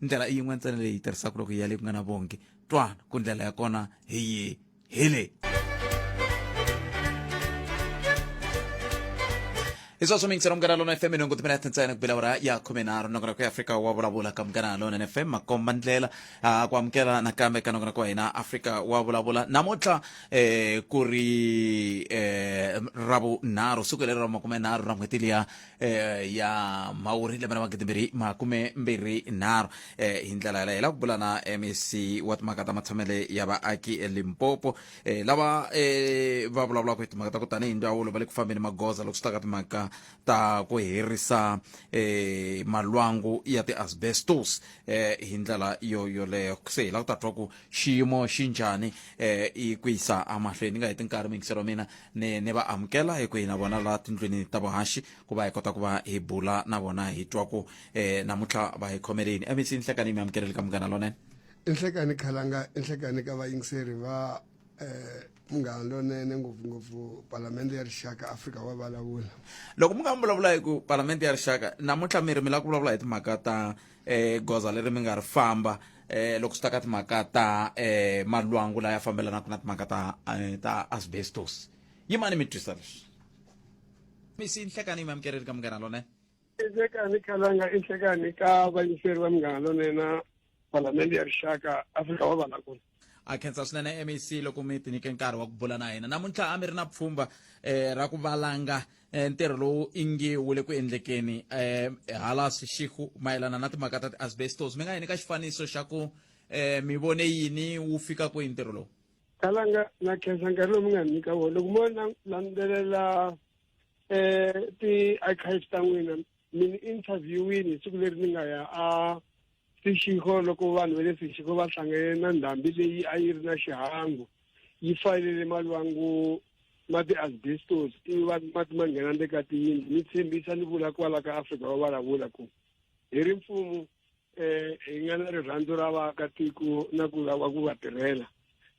ndlela i yin'we ntsena leyi tirhisaka loko ya le ku nga na vongi twana ku ndlela ya kona hi yi hi leyi hi sweswo mi yingisela munghana lona fm nhungu timina tintsena ku bela ura ya khume nharhu nongonoko ya afrika wa vulavula ka munghana lona fm makomba ndlela ah, ku amukela nakambe ka nongonoko wa hina afrika wa vulavula namuntlha eh, ku ri eh, ravunharhu siku leri ra makume nharhu ra n'hweti liya eh, ya mhawuri lembe ra magidi mbirhi makume mbirhi nharhu eh, hi ndlela yaleyo hi lava ku bula na mec wa timhaka ta matshamele ya vaaki elimpopo eh, lava eh, va vulavulaka hi timhaka ta ku tanihi ndzawulo va le ku fambeni magoza loko swi ta ka timhaka ta ku herisa eh, malwangu ya ti-asbestos eh, hi ndlela yo yoleyo se hi lava ku ta twa ku xiyimo xi njhani eh, i ku yisa amahlweni ni nga heti nkarhi mingiselo wa mina ni ni va amukela hi ku hi na vona laha tindlwini ta vuhaxi ku va hi kota ku va hi bula na vona hi twa ku eh namuntlha va hi khomeleni mec nhlekani mi amukeleli ka munghana lonene inhlekani khalanga inhlekani ka vayingiseri va um munghana lonene ngopfungopfu palamende ya rixaka afrika wa vulavula loko mi nga mi vulavula hi ku palamende ya rixaka namuntlha mi ri mi lava ku vulavula hi timhaka ta um goza leri mi nga ri famba eh loko swi ta ka timhaka ta eh malwangu laya fambelanaka na timhaka ta eh, ta asbestos yimani mi twisa leswi misi nhlekani mi amukereri ka munghana lone nhlekani khalanga i nhlekani ka vayingiseri va munghana lonena palamende ya rixaka afrika wa valakulu a khensa swinene mec loko mi tinyike nkarhi wa ku bula na hina namuntlha a mi ri na pfhumba um ra ku valanga eh, ntirho lowu ingi wu le ku endlekeni um hala swixihu mayelana na timhaka ta ti-asbestos mi nga yini ka xifaniso xa ku um mi vone yini wu fika kwihi ntirho lowu kalanga na khensa nkarhi lowu mi nga nyika wona loko mo landzelela um ti-archives ta n'wina mi ni interviewini hi siku leri ni nga ya a sixiko loko vanhu va le sixiko va hlangane na ndhambi leyi a yi ri na xihangu yi fanele malwangu ma ti-asbestos ivi va mati ma nghena le ka tiyindlu ni tshembisa ni vula kwala ka afrika va vulavula ku hi ri mfumu um hi nga na rirhandzu ra vaakatiko na ku lava ku va tirhela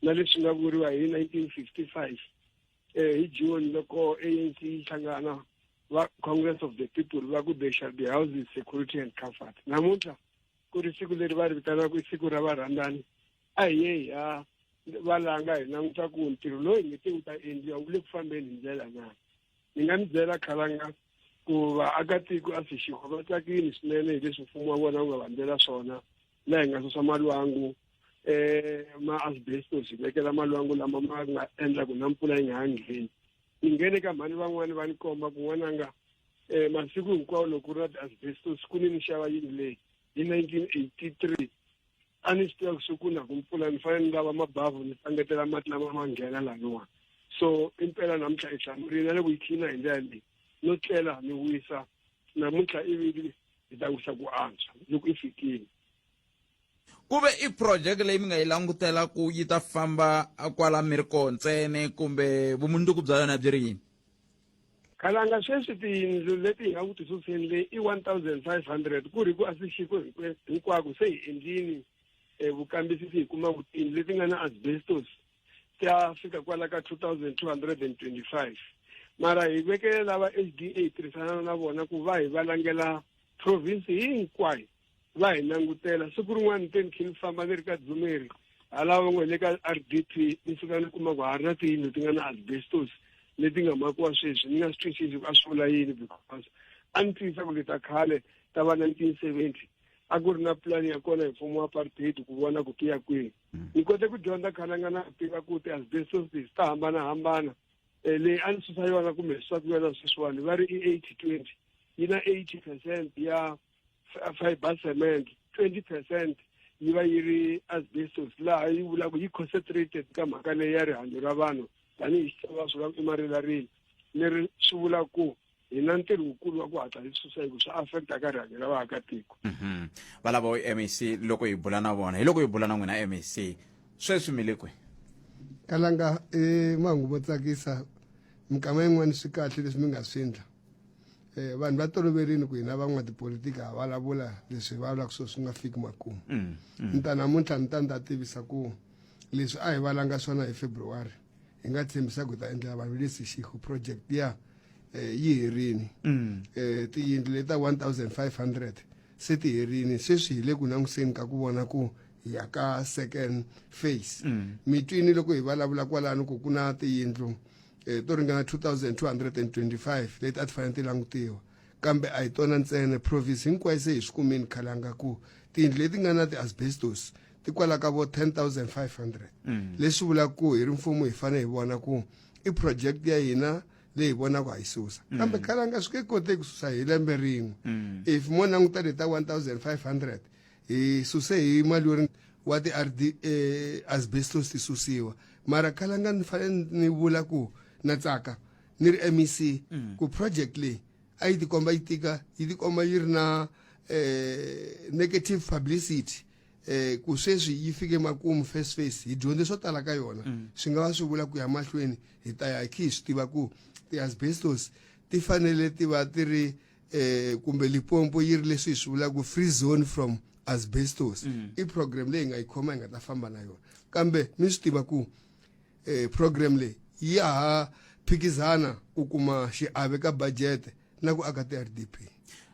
na leswi nga vuriwa hi nineteen fifty five eh, hi june loko anc yi hlangana va congress of the people va ku they shall be houses security and comfort namuntlha ku ri siku leri va ri vitanaka i siku ra varhandzani a hi ye hi ya va langa hi languta ku ntirho loyi hi ngete wu ta endliwa wu le ku fambeni hi ndlela na ni nga mi byela khalanga ku vaakatiko a sixiko va tsakile swinene hi leswi mfumo wa vona wu va vandzela swona la hi nga susa malwangu eh ma asbestos hi vekela malwangu lama ma nga endla ku na mpfula yi nga ha ngheni ni nghene ka mhani van'wani va ni komba ku n'wananga eh masiku hinkwawo loko ri na ti-asbestos ku ni ni xava yini leyi hi nineteen eighty three a ni swi tiva ku swi ku na ku mpfula ni fanele ni lava mabavhu ni tsangetela mati lama ma nghena laniwani so impela namuntlha hi hlamurile na loko yi khina hi ndlela leyi no tlela ni wisa namuntlha ivi yi ta wisa ku antswa loko i fikile ku ve i project leyi mi nga yi langutela ku yi ta famba kwala mi ri koho ntsene kumbe vumundzuku bya yona byi ri yini khalanga sweswi tiyindlu leti hi nga ku tisuseni leyi i one thousand five hundred ku ri ku a swi xiko hinkwako se hi endlini um vukambisisi hi kuma ku tiyindlu leti nga na asbestos ti ya fika kwala ka 2225 mara hi vekele lava hda hi tirhisana na vona ku va hi va langela province hinkwayo va hi langutela siku rin'wana ni te ni khe ni famba ni ri ka dzumeri halava va ngo le ka r d p ni fika ni kuma ku ha ri na tiyindlu ti nga na asbestos leti nga makiwa sweswi ni nga swi twisisi ku a swi vula yini because a ni tiyisa ku leta khale ta va 1970 a ku ri na pulani ya kona hi mfumo wa apartheid ku vona ku tiya kwihi mm. ni kote ku dyondza khalanga na tiva ku ti-asbestosis ta hambanahambana um leyi a ni susa yona kumbe swaku yona sweswiwani va ri i eighty twenty yi na eighty percent ya fiber cement twenty percent yi va yi ri asbestos laha yi vulaka yi concentrated ka mhaka leyi ya rihanyo ra vanhu tanihi xitsonga swi va i marilarile leri swi vula ku hi na ntirho wukulu wa ku hatla hi susa hikuva swi affect aka rihanyo ra vaakatiko mhm. va lava mac loko hi bula na vona hi loko hi bula na n'wina mac sweswi mi le kwihi kalanga i e, mahungu mo tsakisa minkama yin'wana swi kahle leswi mi nga swi endla um vanhu va toloverini ku hina van'watipolitiki ha vulavula leswi hi vulavulaka swo swi nga fiki makumu mm, mm. ni ta namuntlha ni ta ni ta tivisa ku Leswi a hi valanga swona hi February hi nga tshembisa ku ta endlela vanhu lesi xihu project ya eh, yi herini mm. eh, tiyindlu leta 1500 se ti herini sweswi hi le ku languseni ka ku vona ku ya ka second phase mm. mitwini loko hi vulavula kwalano ku ku na tiyindlu eh, to ringana 2225 leti a ti fanele ti langutiwa kambe a hi tona ntsena province hinkwayo se hi swi kumeni khalanga ku tiyindlu leti nga na ti-asbestos ti kwala ka vo 10500 mm. leswi vulaka ku hi ri mfumo hi fanele hi vona ku i project ya hina leyi hi vonaka ha yi susa mm. kambe kalanga swi nge koteki ku susa hi lembe rin'we mm. if mo languta le ta 1500 hi suse hi mali yo wa ti-r d eh, asbestos ti susiwa mara kalanga ni fanele ni vula ku na tsaka ni ri mec mm. ku project leyi a yi tikomba yi tika yi tikomba yi ri na um negative publicity eh ku sweswi yi fike makumu first face hi dyondze swo tala ka yona mm. swi nga va swi vula ku ya mahlweni hi ta ya khi swi tiva ku ti-asbestos ti fanele ti va ti ri eh kumbe lipompo yi ri leswi hi swi vulaka free zone from asbestos mm. i program leyi nga yi khoma yi nga ta famba na yona kambe mi swi tiva ku eh program leyi ya ha phikizana ku kuma xiave ka budget na ku aka ti-rdp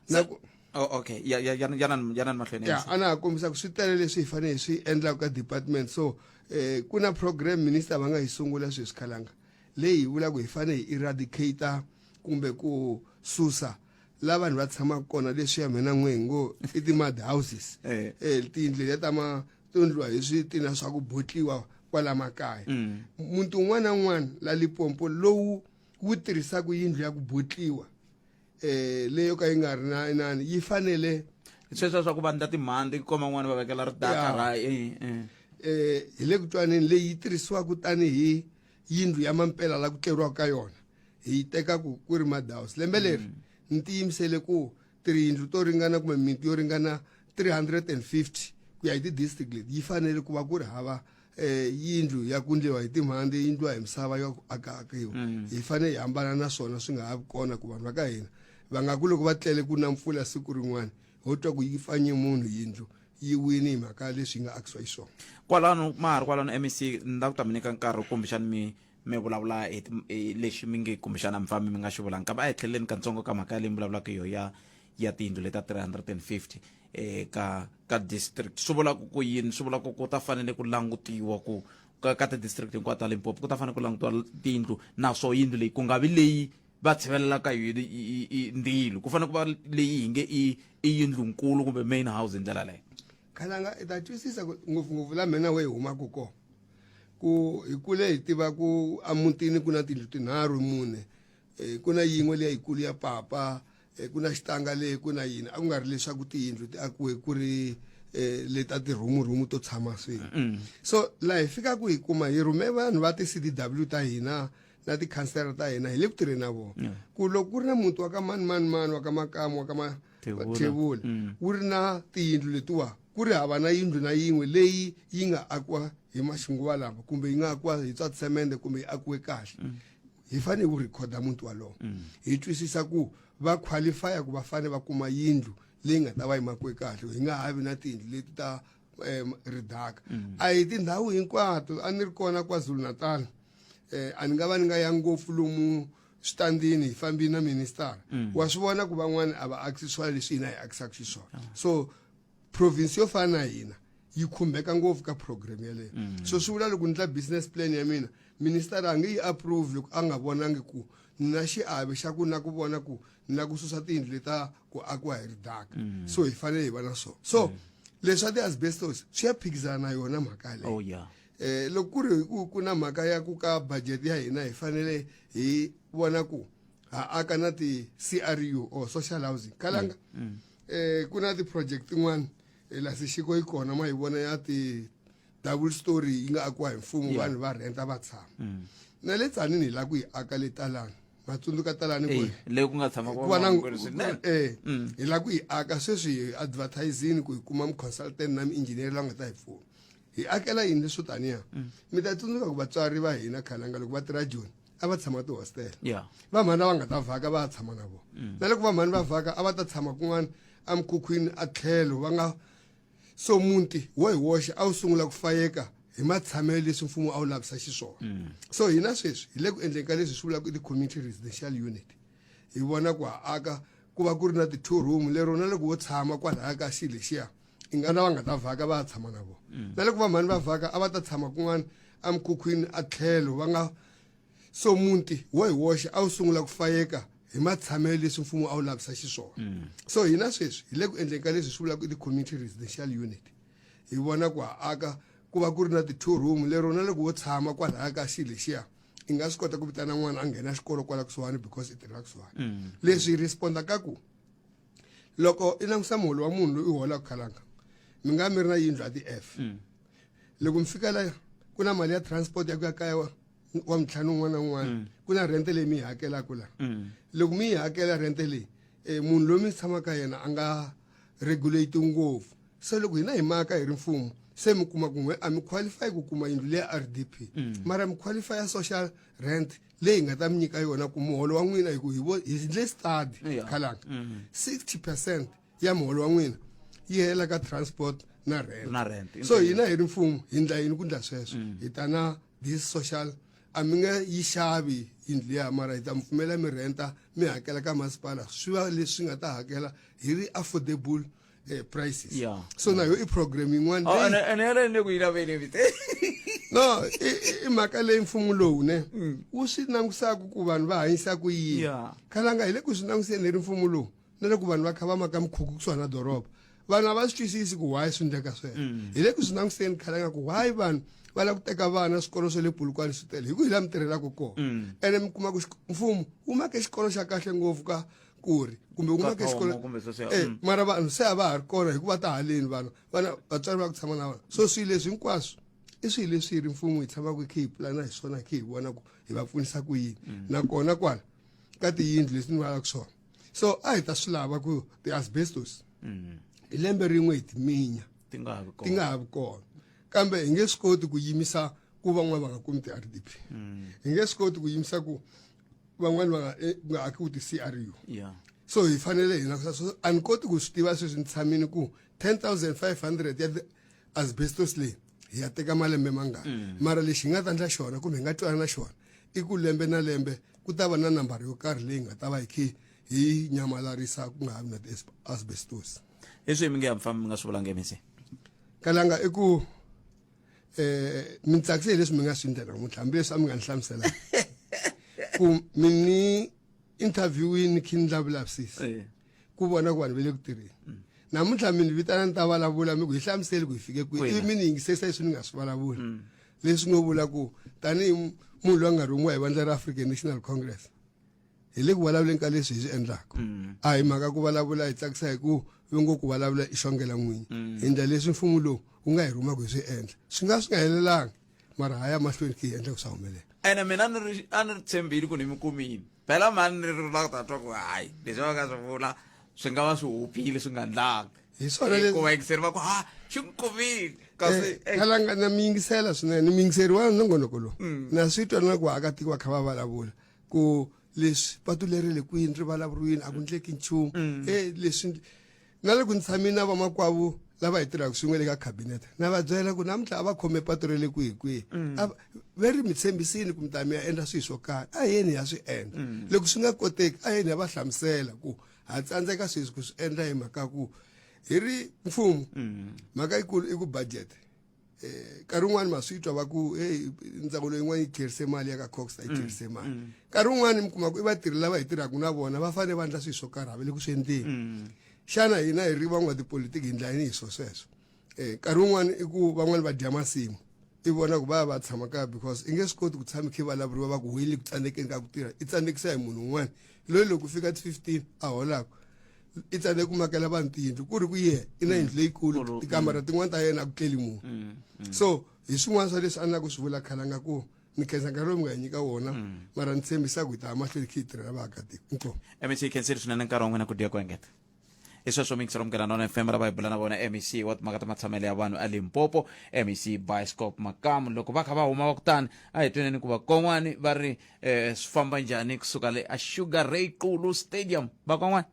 na ku Oh, okay ya ya ya ya nan ya nan mahlweni ya ana ha kombisa ku swi tele leswi hi fanele hi swi endlaka ka department so eh ku na program minister va nga yi sungula sweswi khalanga leyi hi vulaka hi fanele hi eradicate kumbe ku susa la vanhu va tshamaka kona leswi ya mina n'we ngo i ti-mud houses Eh. eh tiyindlu letiya ta ma to ndliwa hi switina swa ku botliwa kwala makaya muti un'wana na un'wana la lipompo lowu wu tirhisaka yindlu ya ku botliwa eh leyo ka yi nga ri na inani yi fanele sweswo swa ku vandla timhandzi ku koma n'wana va vekela ridaka ra eh, eh. eh hi le ku twaneni leyi yi tirhisiwaka tanihi yindlu ya mampela la ku tleriwaka ka yona hi yi teka ku ku ri madaus lembe leri mm. ni tiyimisele ku tiyindlu to ringana kumbe miti yo ringana 350 ku ya hi ti-district leti yi fanele ku va ku ri hava eh yindlu ya ku ndliwa hi timhandzi yi ndliwa hi misava ya ku akaakiwa mm. hi fanele hi hambana na swona swi nga ha vi kona ku vanhu va ka hina va nga ku loko va tlele ku na mpfula siku rin'wana ho twa ku yi fanye munhu yindlu yi wini hi mhaka leswi yi nga akisiwa yi swona kwalano ma ha ri kwalano mec ni la ku ta mi nyika nkarhi kumbexani mi mi vulavula hi lexi mi nge kumbexana mi fambi mi nga xi vulangi kambe a hi tlheleleni kantsongo ka mhaka leyi mi vulavulaka yo ya ya tiyindlu leta 350 eh, ka ka district swi vulaka ku yini swi vulaka ku ta fanele ku langutiwa ku ka, ka ti-district hinkwato ta limpopo ku ta fanele ku langutiwa tiyindlu naswo yindlu leyi ku nga vi leyi va tshivelelaka yini ndilo ku fanele ku va leyi hi nge i yindlu nkulu kumbe main house hi ndlela leyo khalanga i ta twisisa ngopfungopfu la mina we hi humaka kona ku hi kule hi tiva ku emutini ku na tindlu tinharhu mune um ku na yin'we leya yikulu ya papa um ku na xitanga leyi ku na yini a ku nga ri leswaku tiyindlu ti akiwe ku ri um le ta tirhumurhumu to tshama swin'we mm. so laha hi fikaka hi kuma hi rhume vanhu va ti-c d w ta hina na tikhansela ta hina hi le ku tirheni na vona ku loko ku ri na muti wa ka mani mani mani wa ka makamu wa ka ma Thewula. thewula Mm. wu ri na tiyindlu letiwa ku ri hava na yindlu na yin'we leyi yi nga akiwa hi maxinguva lama kumbe yi nga akiwa hi swa tsemende kumbe yi akiwe kahle Mm. hi fanele ku rhikhoda muti walowo hi twisisa ku va qualifya ku va fanele va kuma yindlu leyi nga ta va yimakiwe kahle hi nga ha vi na tiyindlu leti ta um, ridaka a hi tindhawu hinkwato a ni ri kona kwazulu natal um a ni nga va ni nga ya ngopfu lomu switandini hi fambini na ministara mm. wa swi vona ku van'wana a va akisi swona leswi hina hi akisaka xiswona ah. so province yo fana na hina yi khumbeka ngopfu ka program yeleyo mm. so swi vula loko ni tla business plan ya mina ministara a nge yi approve loko a nga vonangi ku ni na xiave xa ku na ku vona ku ni na ku susa tiyindlu leta ku akiwa hi ridaka mm. so hi fanele hi va na swona so mm. leswi swa ti-asbestos swi ya phikizana na yona mhaka yaleyo oh, Eh, loko ku ri ku ku na mhaka ya ku ka budget ya hina hi fanele hi vona ku ha aka na ti-cru or social housing kalanga mm. mm. eh, ku na ti-project tin'wana eh, la sexiko yi kona ma yi vona ya ti double story yi nga akiwa hi mfumo vanhu va rhenta va tshama mm. na le tsanini hi la ku yi aka le talani va tsundzuka talani ku eh, leyi ku nga tshama ku va na eh mm. hi la ku yi aka sweswi hi advertising ku hi kuma mu consultant na mi engineer la nga ta hi pfuna hi akela yini leswo taniya mm. mi ta tsundzuka ku vatswari va hina khalanga loko va tirha joni a va tshama tihostela vamhani lava nga ta vhaka va ya tshama na vona mm. na loko vamhani va vhaka a va ta tshama kun'wana emikhukhwini a tlhelo va nga so munti wo hi woxe a wu sungula ku fayeka hi matshamelo leswi mfumo a wu lavisa xiswona mm. so hina sweswi hi le ku endleni ka leswi swi vulaka ti-community residential unit hi vona ku ha aka ku va ku ri na ti-two room lero na loko wo tshama kwalaya ka xi lexiya i nga lava nga ta vhaka va ya tshama na vona mm. na loko va mhani va vhaka a va ta tshama kun'wana emikhukhwini a tlhelo va nga so muti wo hi woxe a wu sungula ku fayeka hi matshamelo leswi mfumo a wu lavisa xiswona mm. so hina sweswi hi le ku endleni ka leswi swi vulaka ti-community residential unit hi vona ku ha aka ku va ku ri na ti-two room lero na loko wo tshama kwalaya ka xi lexiya i nga swi kota ku vitana n'wana a nghena xikolo kwala kusuhani because i tirhela kusuhani mm. leswi hi responda ka ku loko i langusa muholo wa munhu loyi u holaka khalanga mi nga mi ri na yindlu a ti-f mm. loko mi fika laya ku na mali ya transport ya ku ya kaya wa wa mintlhanu un'wana na un'wana mm. ku na rente leyi mi yi hakelaka laha mm. loko mi yi hakela rente leyi um munhu loyi mi tshamaka yena a nga regulate ngopfu se loko hina hi maka hi ri mfumo se mi kuma ku n'we a mi qualify ku kuma yindlu leya r d p mara mi qualify ya social rent leyi hi nga ta mi nyika yona ku muholo wa n'wina hi ku hi vo hi ndle study Yeah. khalanga Mhm. 60 percent ya muholo wa n'wina yi hela ka transport na rent Na rent. so hina hi ri mfumo hi ndla yini ku ndla sweswo hi ta na this social a mi nge yi xavi yindlu ya mara hi ta mi pfumela mi renta mi hakela ka masipala swi va leswi nga ta hakela hi ri affordable eh, prices Yeah. so nayo i program yin'wana Oh, leyi- and, and yona ni ku yi lava yini vite no i- i- i mhaka leyi mfumo lowu ne wu swi langutisaka ku vanhu va hanyisa ku yini Yeah. khalanga hi le ku swi langutiseni hi ri mfumo lowu na loko vanhu va kha va maka mikhukhu kusuhana na doroba vanhu a va swi twisisi ku why swi endleka sweswo hi le ku swi langutiseni khalanga ku why vanhu va lava ku teka vana swikolo swa le pulukwane swi tele hi ku hi laha mi tirhelaka kona ene mi kuma ku xik- mfumo wu make xikolo xa kahle ngopfu ka ku ri kumbe ku nga ke xikolo kumbe sweswo eh, mm. mara vanhu se a va ha ri kona hikuva ta haleni vanhu vana vatswari va ku tshama na vona so swilo leswi hinkwaswo i swilo leswi ri mfumo hi tshamaka hi khe hi pulana hi swona hi khe hi vona ku hi va pfunisa ku yini mm. nakona kwala ka tiyindlu leswi ni valaka swona so a hi ta swi lava ku ti-asbestos mm. hi lembe rin'we hi timinya ti nga ha vi kona kambe hi nge swi koti ku yimisa ku van'wana va nga kumi ti-rdp hi nge swi koti ku yimisa ku van'wani va nga eh, nga akiwi ti-cru yeah so hi fanele hina so a ni koti ku swi tiva sweswi ni tshamini ku 10500 ya asbestos leyi hi ya teka malembe mangani mm. mara lexi hi nga ta ndla xona kumbe hi nga twana na xona i ku lembe na lembe ku ta va na nambara yo karhi leyi nga ta va hi khe hi nyamalarisa ku nga ha vi na ti-asbestos hi swihi mi nge ya mi famba mi nga swi vulanga emisi kalanga i ku eh mi tsakise leswi mi nga swi ndlela namuntlha hambileswi a mi nga ni hlamusela ku mi ni interviewini khi ni lavulavisisi eh. ku vona ku vanhu va le ku tirheni mm. namuntlha mi ni vitana ni ta vulavula mi ku hi hlamuseli ku hi fike kwihi ivi mi ni yingisesa leswi ni nga swi vulavula mm. leswi ngo vula ku tanihi munhu loyi a nga rhumiwa hi vandla ra african national congress hi le ku vulavuleni ka leswi hi swi endlaka mm. a hi mhaka ku vulavula hi tsakisa hi ku ve ngo ku vulavula i xongela n'winyi mm. hi ndla leswi mfumo lowu wu nga hi rhumaka hi swi endla swi nga swi nga helelanga mara ha ya mahlweni ki hi endla ku swa humelela ene mina a ni ri a ni ri tshembile ku ni mi kumile phela mhani ni ri la ku ta twa ku hayi leswi va nga swi vula swi nga va swi hupile swi nga ndlanga hi swonahikuva yingiseri va ku ha xi mi kumile kasi eh, kalanga na mi yingisela swinene mi yingiseri wa nongonoko lowu mm. na swi twa na ku vaakatiko va kha va vulavula ku leswi patu leri le kwini ri vulavuriwini a ku ndleki nchumu mm. e leswi na le ku ni tshamini na vamakwavo lava hi tirhaka swin'we le ka cabinet na va byela ku namuntlha a va khome patu ra le kwihi kwihi mm. va ri mi tshembisini ku mi ta mi ya endla swilo swo karhi a yeni ya swi endla mm. loko swi nga koteki a yeni ya va hlamusela ku ha tsandzeka sweswi ku swi endla hi mhaka ku hi ri mfumo mhaka yikulu i ku budget eh nkarhi wun'wani ma swi twa va ku hey ndzawulo yin'wana yi tlherise mali ya ka cox a yi mm, tlherise mali mm. nkarhi wun'wani mi kuma ku i vatirhi lava hi tirhaka na vona va fanele va endla swilo swo karhi va le ku swi endleni mm. xana hina hi ri van'wa tipolitiki hi ndla yini hi swo sweswo um eh, nkarhi wun'wani i ku van'wani va dya masimu i vona ku va ya va tshama kaya because i nge swi koti ku tshama khe vulavuriwa va ku hoyile ku tsandzekeni ka ku tirha i tsandzekisa hi munhu un'wana loyi loko fika ti-fifteen a holaka i tsale ku makela vanhu tiyindlu ku ri ku ye i na yindlu leyikulu Kulu, tikamara tin'wana ta yena a ku tleli munhu Mm, mm. so hi swin'wana swa leswi a ni la ku swi vula khale a nga ku ni khensa nkarhi lowu mi nga hi nyika wona mara ni tshembisa ku hi ta ya mahlweni khi hi tirhela vaakatiko inkomu mec yi khensile swinene nkarhi wa n'wina ku dya ku engeta i sweswo mixer omukela nona fm ra va hi bula na vona mec wa timhaka ta matshamelo ya vanhu a limpopo mec bioscope makamu loko va kha va huma va kutani a hi tweneni ku va kon'wani va ri eh, swi famba njhani kusuka le a sugar ray qulu stadium vakwan'wana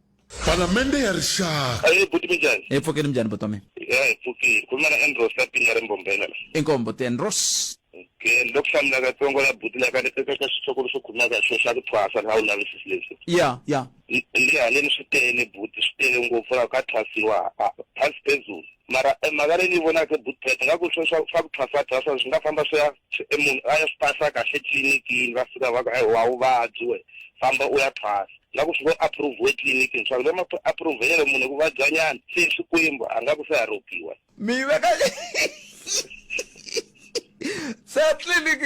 palamende ya rixaka ayi buti minjani hi pfukeni minjhani buti wa mina ya hi pfukile khuluma na andros ka pinga ri mbombela la inkombo tenros ke loko hlamula katsongo la buti la ka eka ka xitshokolo xo khuluma ka xo xa ku thwasa la u lavisisi leswi ya ya Ndzi haleni swi tele buti swi tele ngopfu la ka thwasiwa thwasi phezulu mara e mhaka leyi ni vonaka buti phethe nga ku swo swa swa ku thwasa thwasa swi nga famba swi ya e munhu a ya swi pasa kahle tlilinikiini va fika va ku e wa vuvabyi we famba u ya thwasa nga ku swi ngo approve-we tlilinikiini swa ku va ma approve-ele munhu hi ku vabyanyana se swikwembu a nga ku se haropiwa Meyve kaç... Satlilik.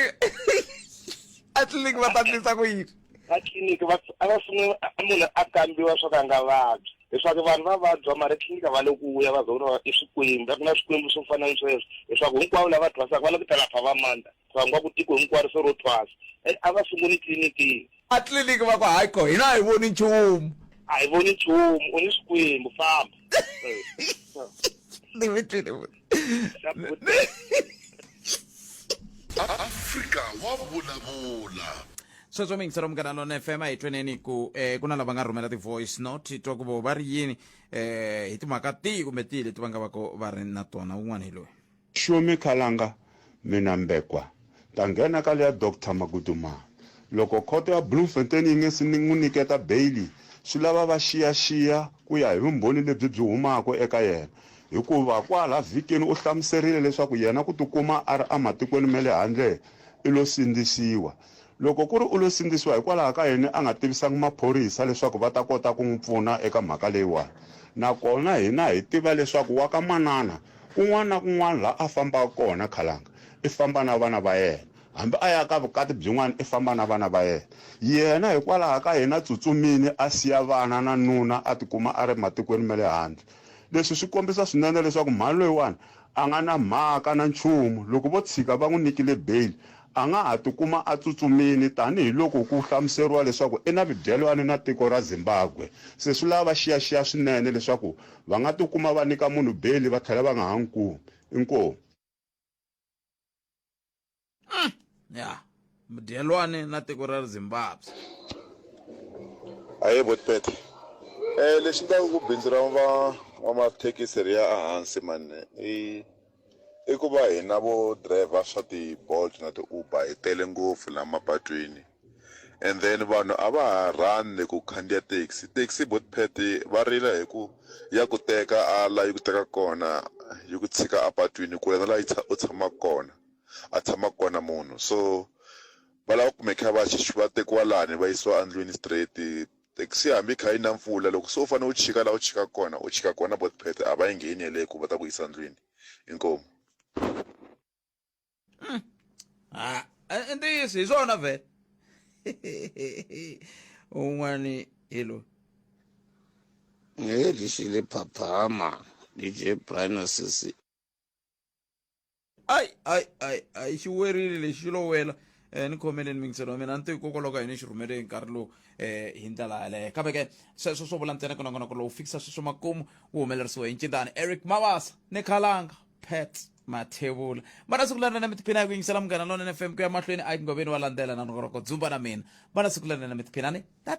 Atlilik vatatisa ku yini? Atlilik va va sungula munhu a kambiwa swo ka nga vabyi. Leswaku vanhu va vabya mara tliliniki va le ku vuya va zona i swikwembu. Ku na swikwembu swo fana ni sweswo. Leswaku hinkwavo lava thwasaka va le ku ta lapha va mandza. Thwangwa ku tiko hinkwaro se ro thwasa and a va sunguli tliliniki. A tliliniki va ku hayi ko hina a hi voni nchumu. A hi voni nchumu u ni swikwembu famba. Ni mi twile futhi. Afrika wa vulavula. Sweswo mi yingisela Munghana Lonene FM a hi tweneni ku eh, ku na lava nga rhumela ti-voice note twa ku vo va ri yini eh, hi timhaka tihi kumbe tihi leti va nga va ko va ri na tona wun'wana hi loyi Sure mi khalanga mina Mbekwa ta nghena ka leya Doctor Magudumana loko khoto ya Bloemfontein yi nge si n'wi niketa beyili swi lava va xiyaxiya ku ya hi vumbhoni lebyi byi humaka eka yena hikuva kwala vhikini u hlamuserile leswaku yena ku tikuma a ri ematikweni ma le handle i lo sindzisiwa Loko ku ri u lo sindzisiwa hikwalaho ka yini a nga tivisanga maphorisa leswaku va ta kota ku n'wi pfuna eka mhaka leyiwani? Nakona hina hi tiva leswaku wa ka manana, kun'wana na kun'wana laha a fambaka kona khalanga, i famba na vana va yena. Hambi a ya ka vukati byin'wana i famba na vana va yena. Yena hikwalaho ka yini a tsutsumile a siya vana na nuna a tikuma a ri matikweni ma le handle? Leswi swi kombisa swinene leswaku mhani loyiwani a nga na mhaka na nchumu. Loko vo tshika va n'wi nyikile beyili, A nga ha tikuma a tsutsumile tanihi loko ku hlamuseriwa leswaku i na mibyelwano na tiko ra Zimbabwe. Se swi lava va xiyaxiya swinene leswaku va nga tikuma va nyika munhu beyili va tlhela va nga ha n'wi kumi. Inkomu. Umm ya mudyelwani na tiko ra Zimbabwe. Ahee Buti Pete. Lexi endlaka ku bindzu ra van'wamathekisi ri ya ehansi mhani i I ku va hina vo driver swa ti-Bolt na ti-Uber hi tele ngopfu la mapatwini and then vanhu a va ha rhandzi ku khandziya taxi taxi bot pet va rila hi ku ya ku teka a la yi ku teka kona yi ku tshika apatwini kule na la yi u tshamaka kona a tshamaka kona munhu so va lava ku make sure va va tekiwa lani va yisiwa endlwini straight Taxi hambi yi kha yi na mpfula loko se u fane u chika la u chikaka kona u chika kona both path a va yi ngheni yeleyo ku va ta ku yisa ndlwini inkomu. I ntiyiso hi swona vhele un'wani hi loyi Ngeli xi le phaphama DJ Brian Sisi. ai ai ai ai xi werile lexi xi lo wela um ni khomeleni mingiselo wa mina a ni to hikokwalaho ka yini xi rhumele hi nkarhi lowu um hi ndlela yaleyo kambe ke sweswo swo vula ntsena ku nongonoko lowu fikisa sweswo makumu wu humelerisiwe hi ncindani eric mabasa ni khalanga pat mathevula vana siku lerinene mi tiphina hi ku yingisela munghana lonene fm ku ya mahlweni a yi ngoveni wa landzela na nongonoko dzumba na mina vana siku lerinene mi tiphinani tata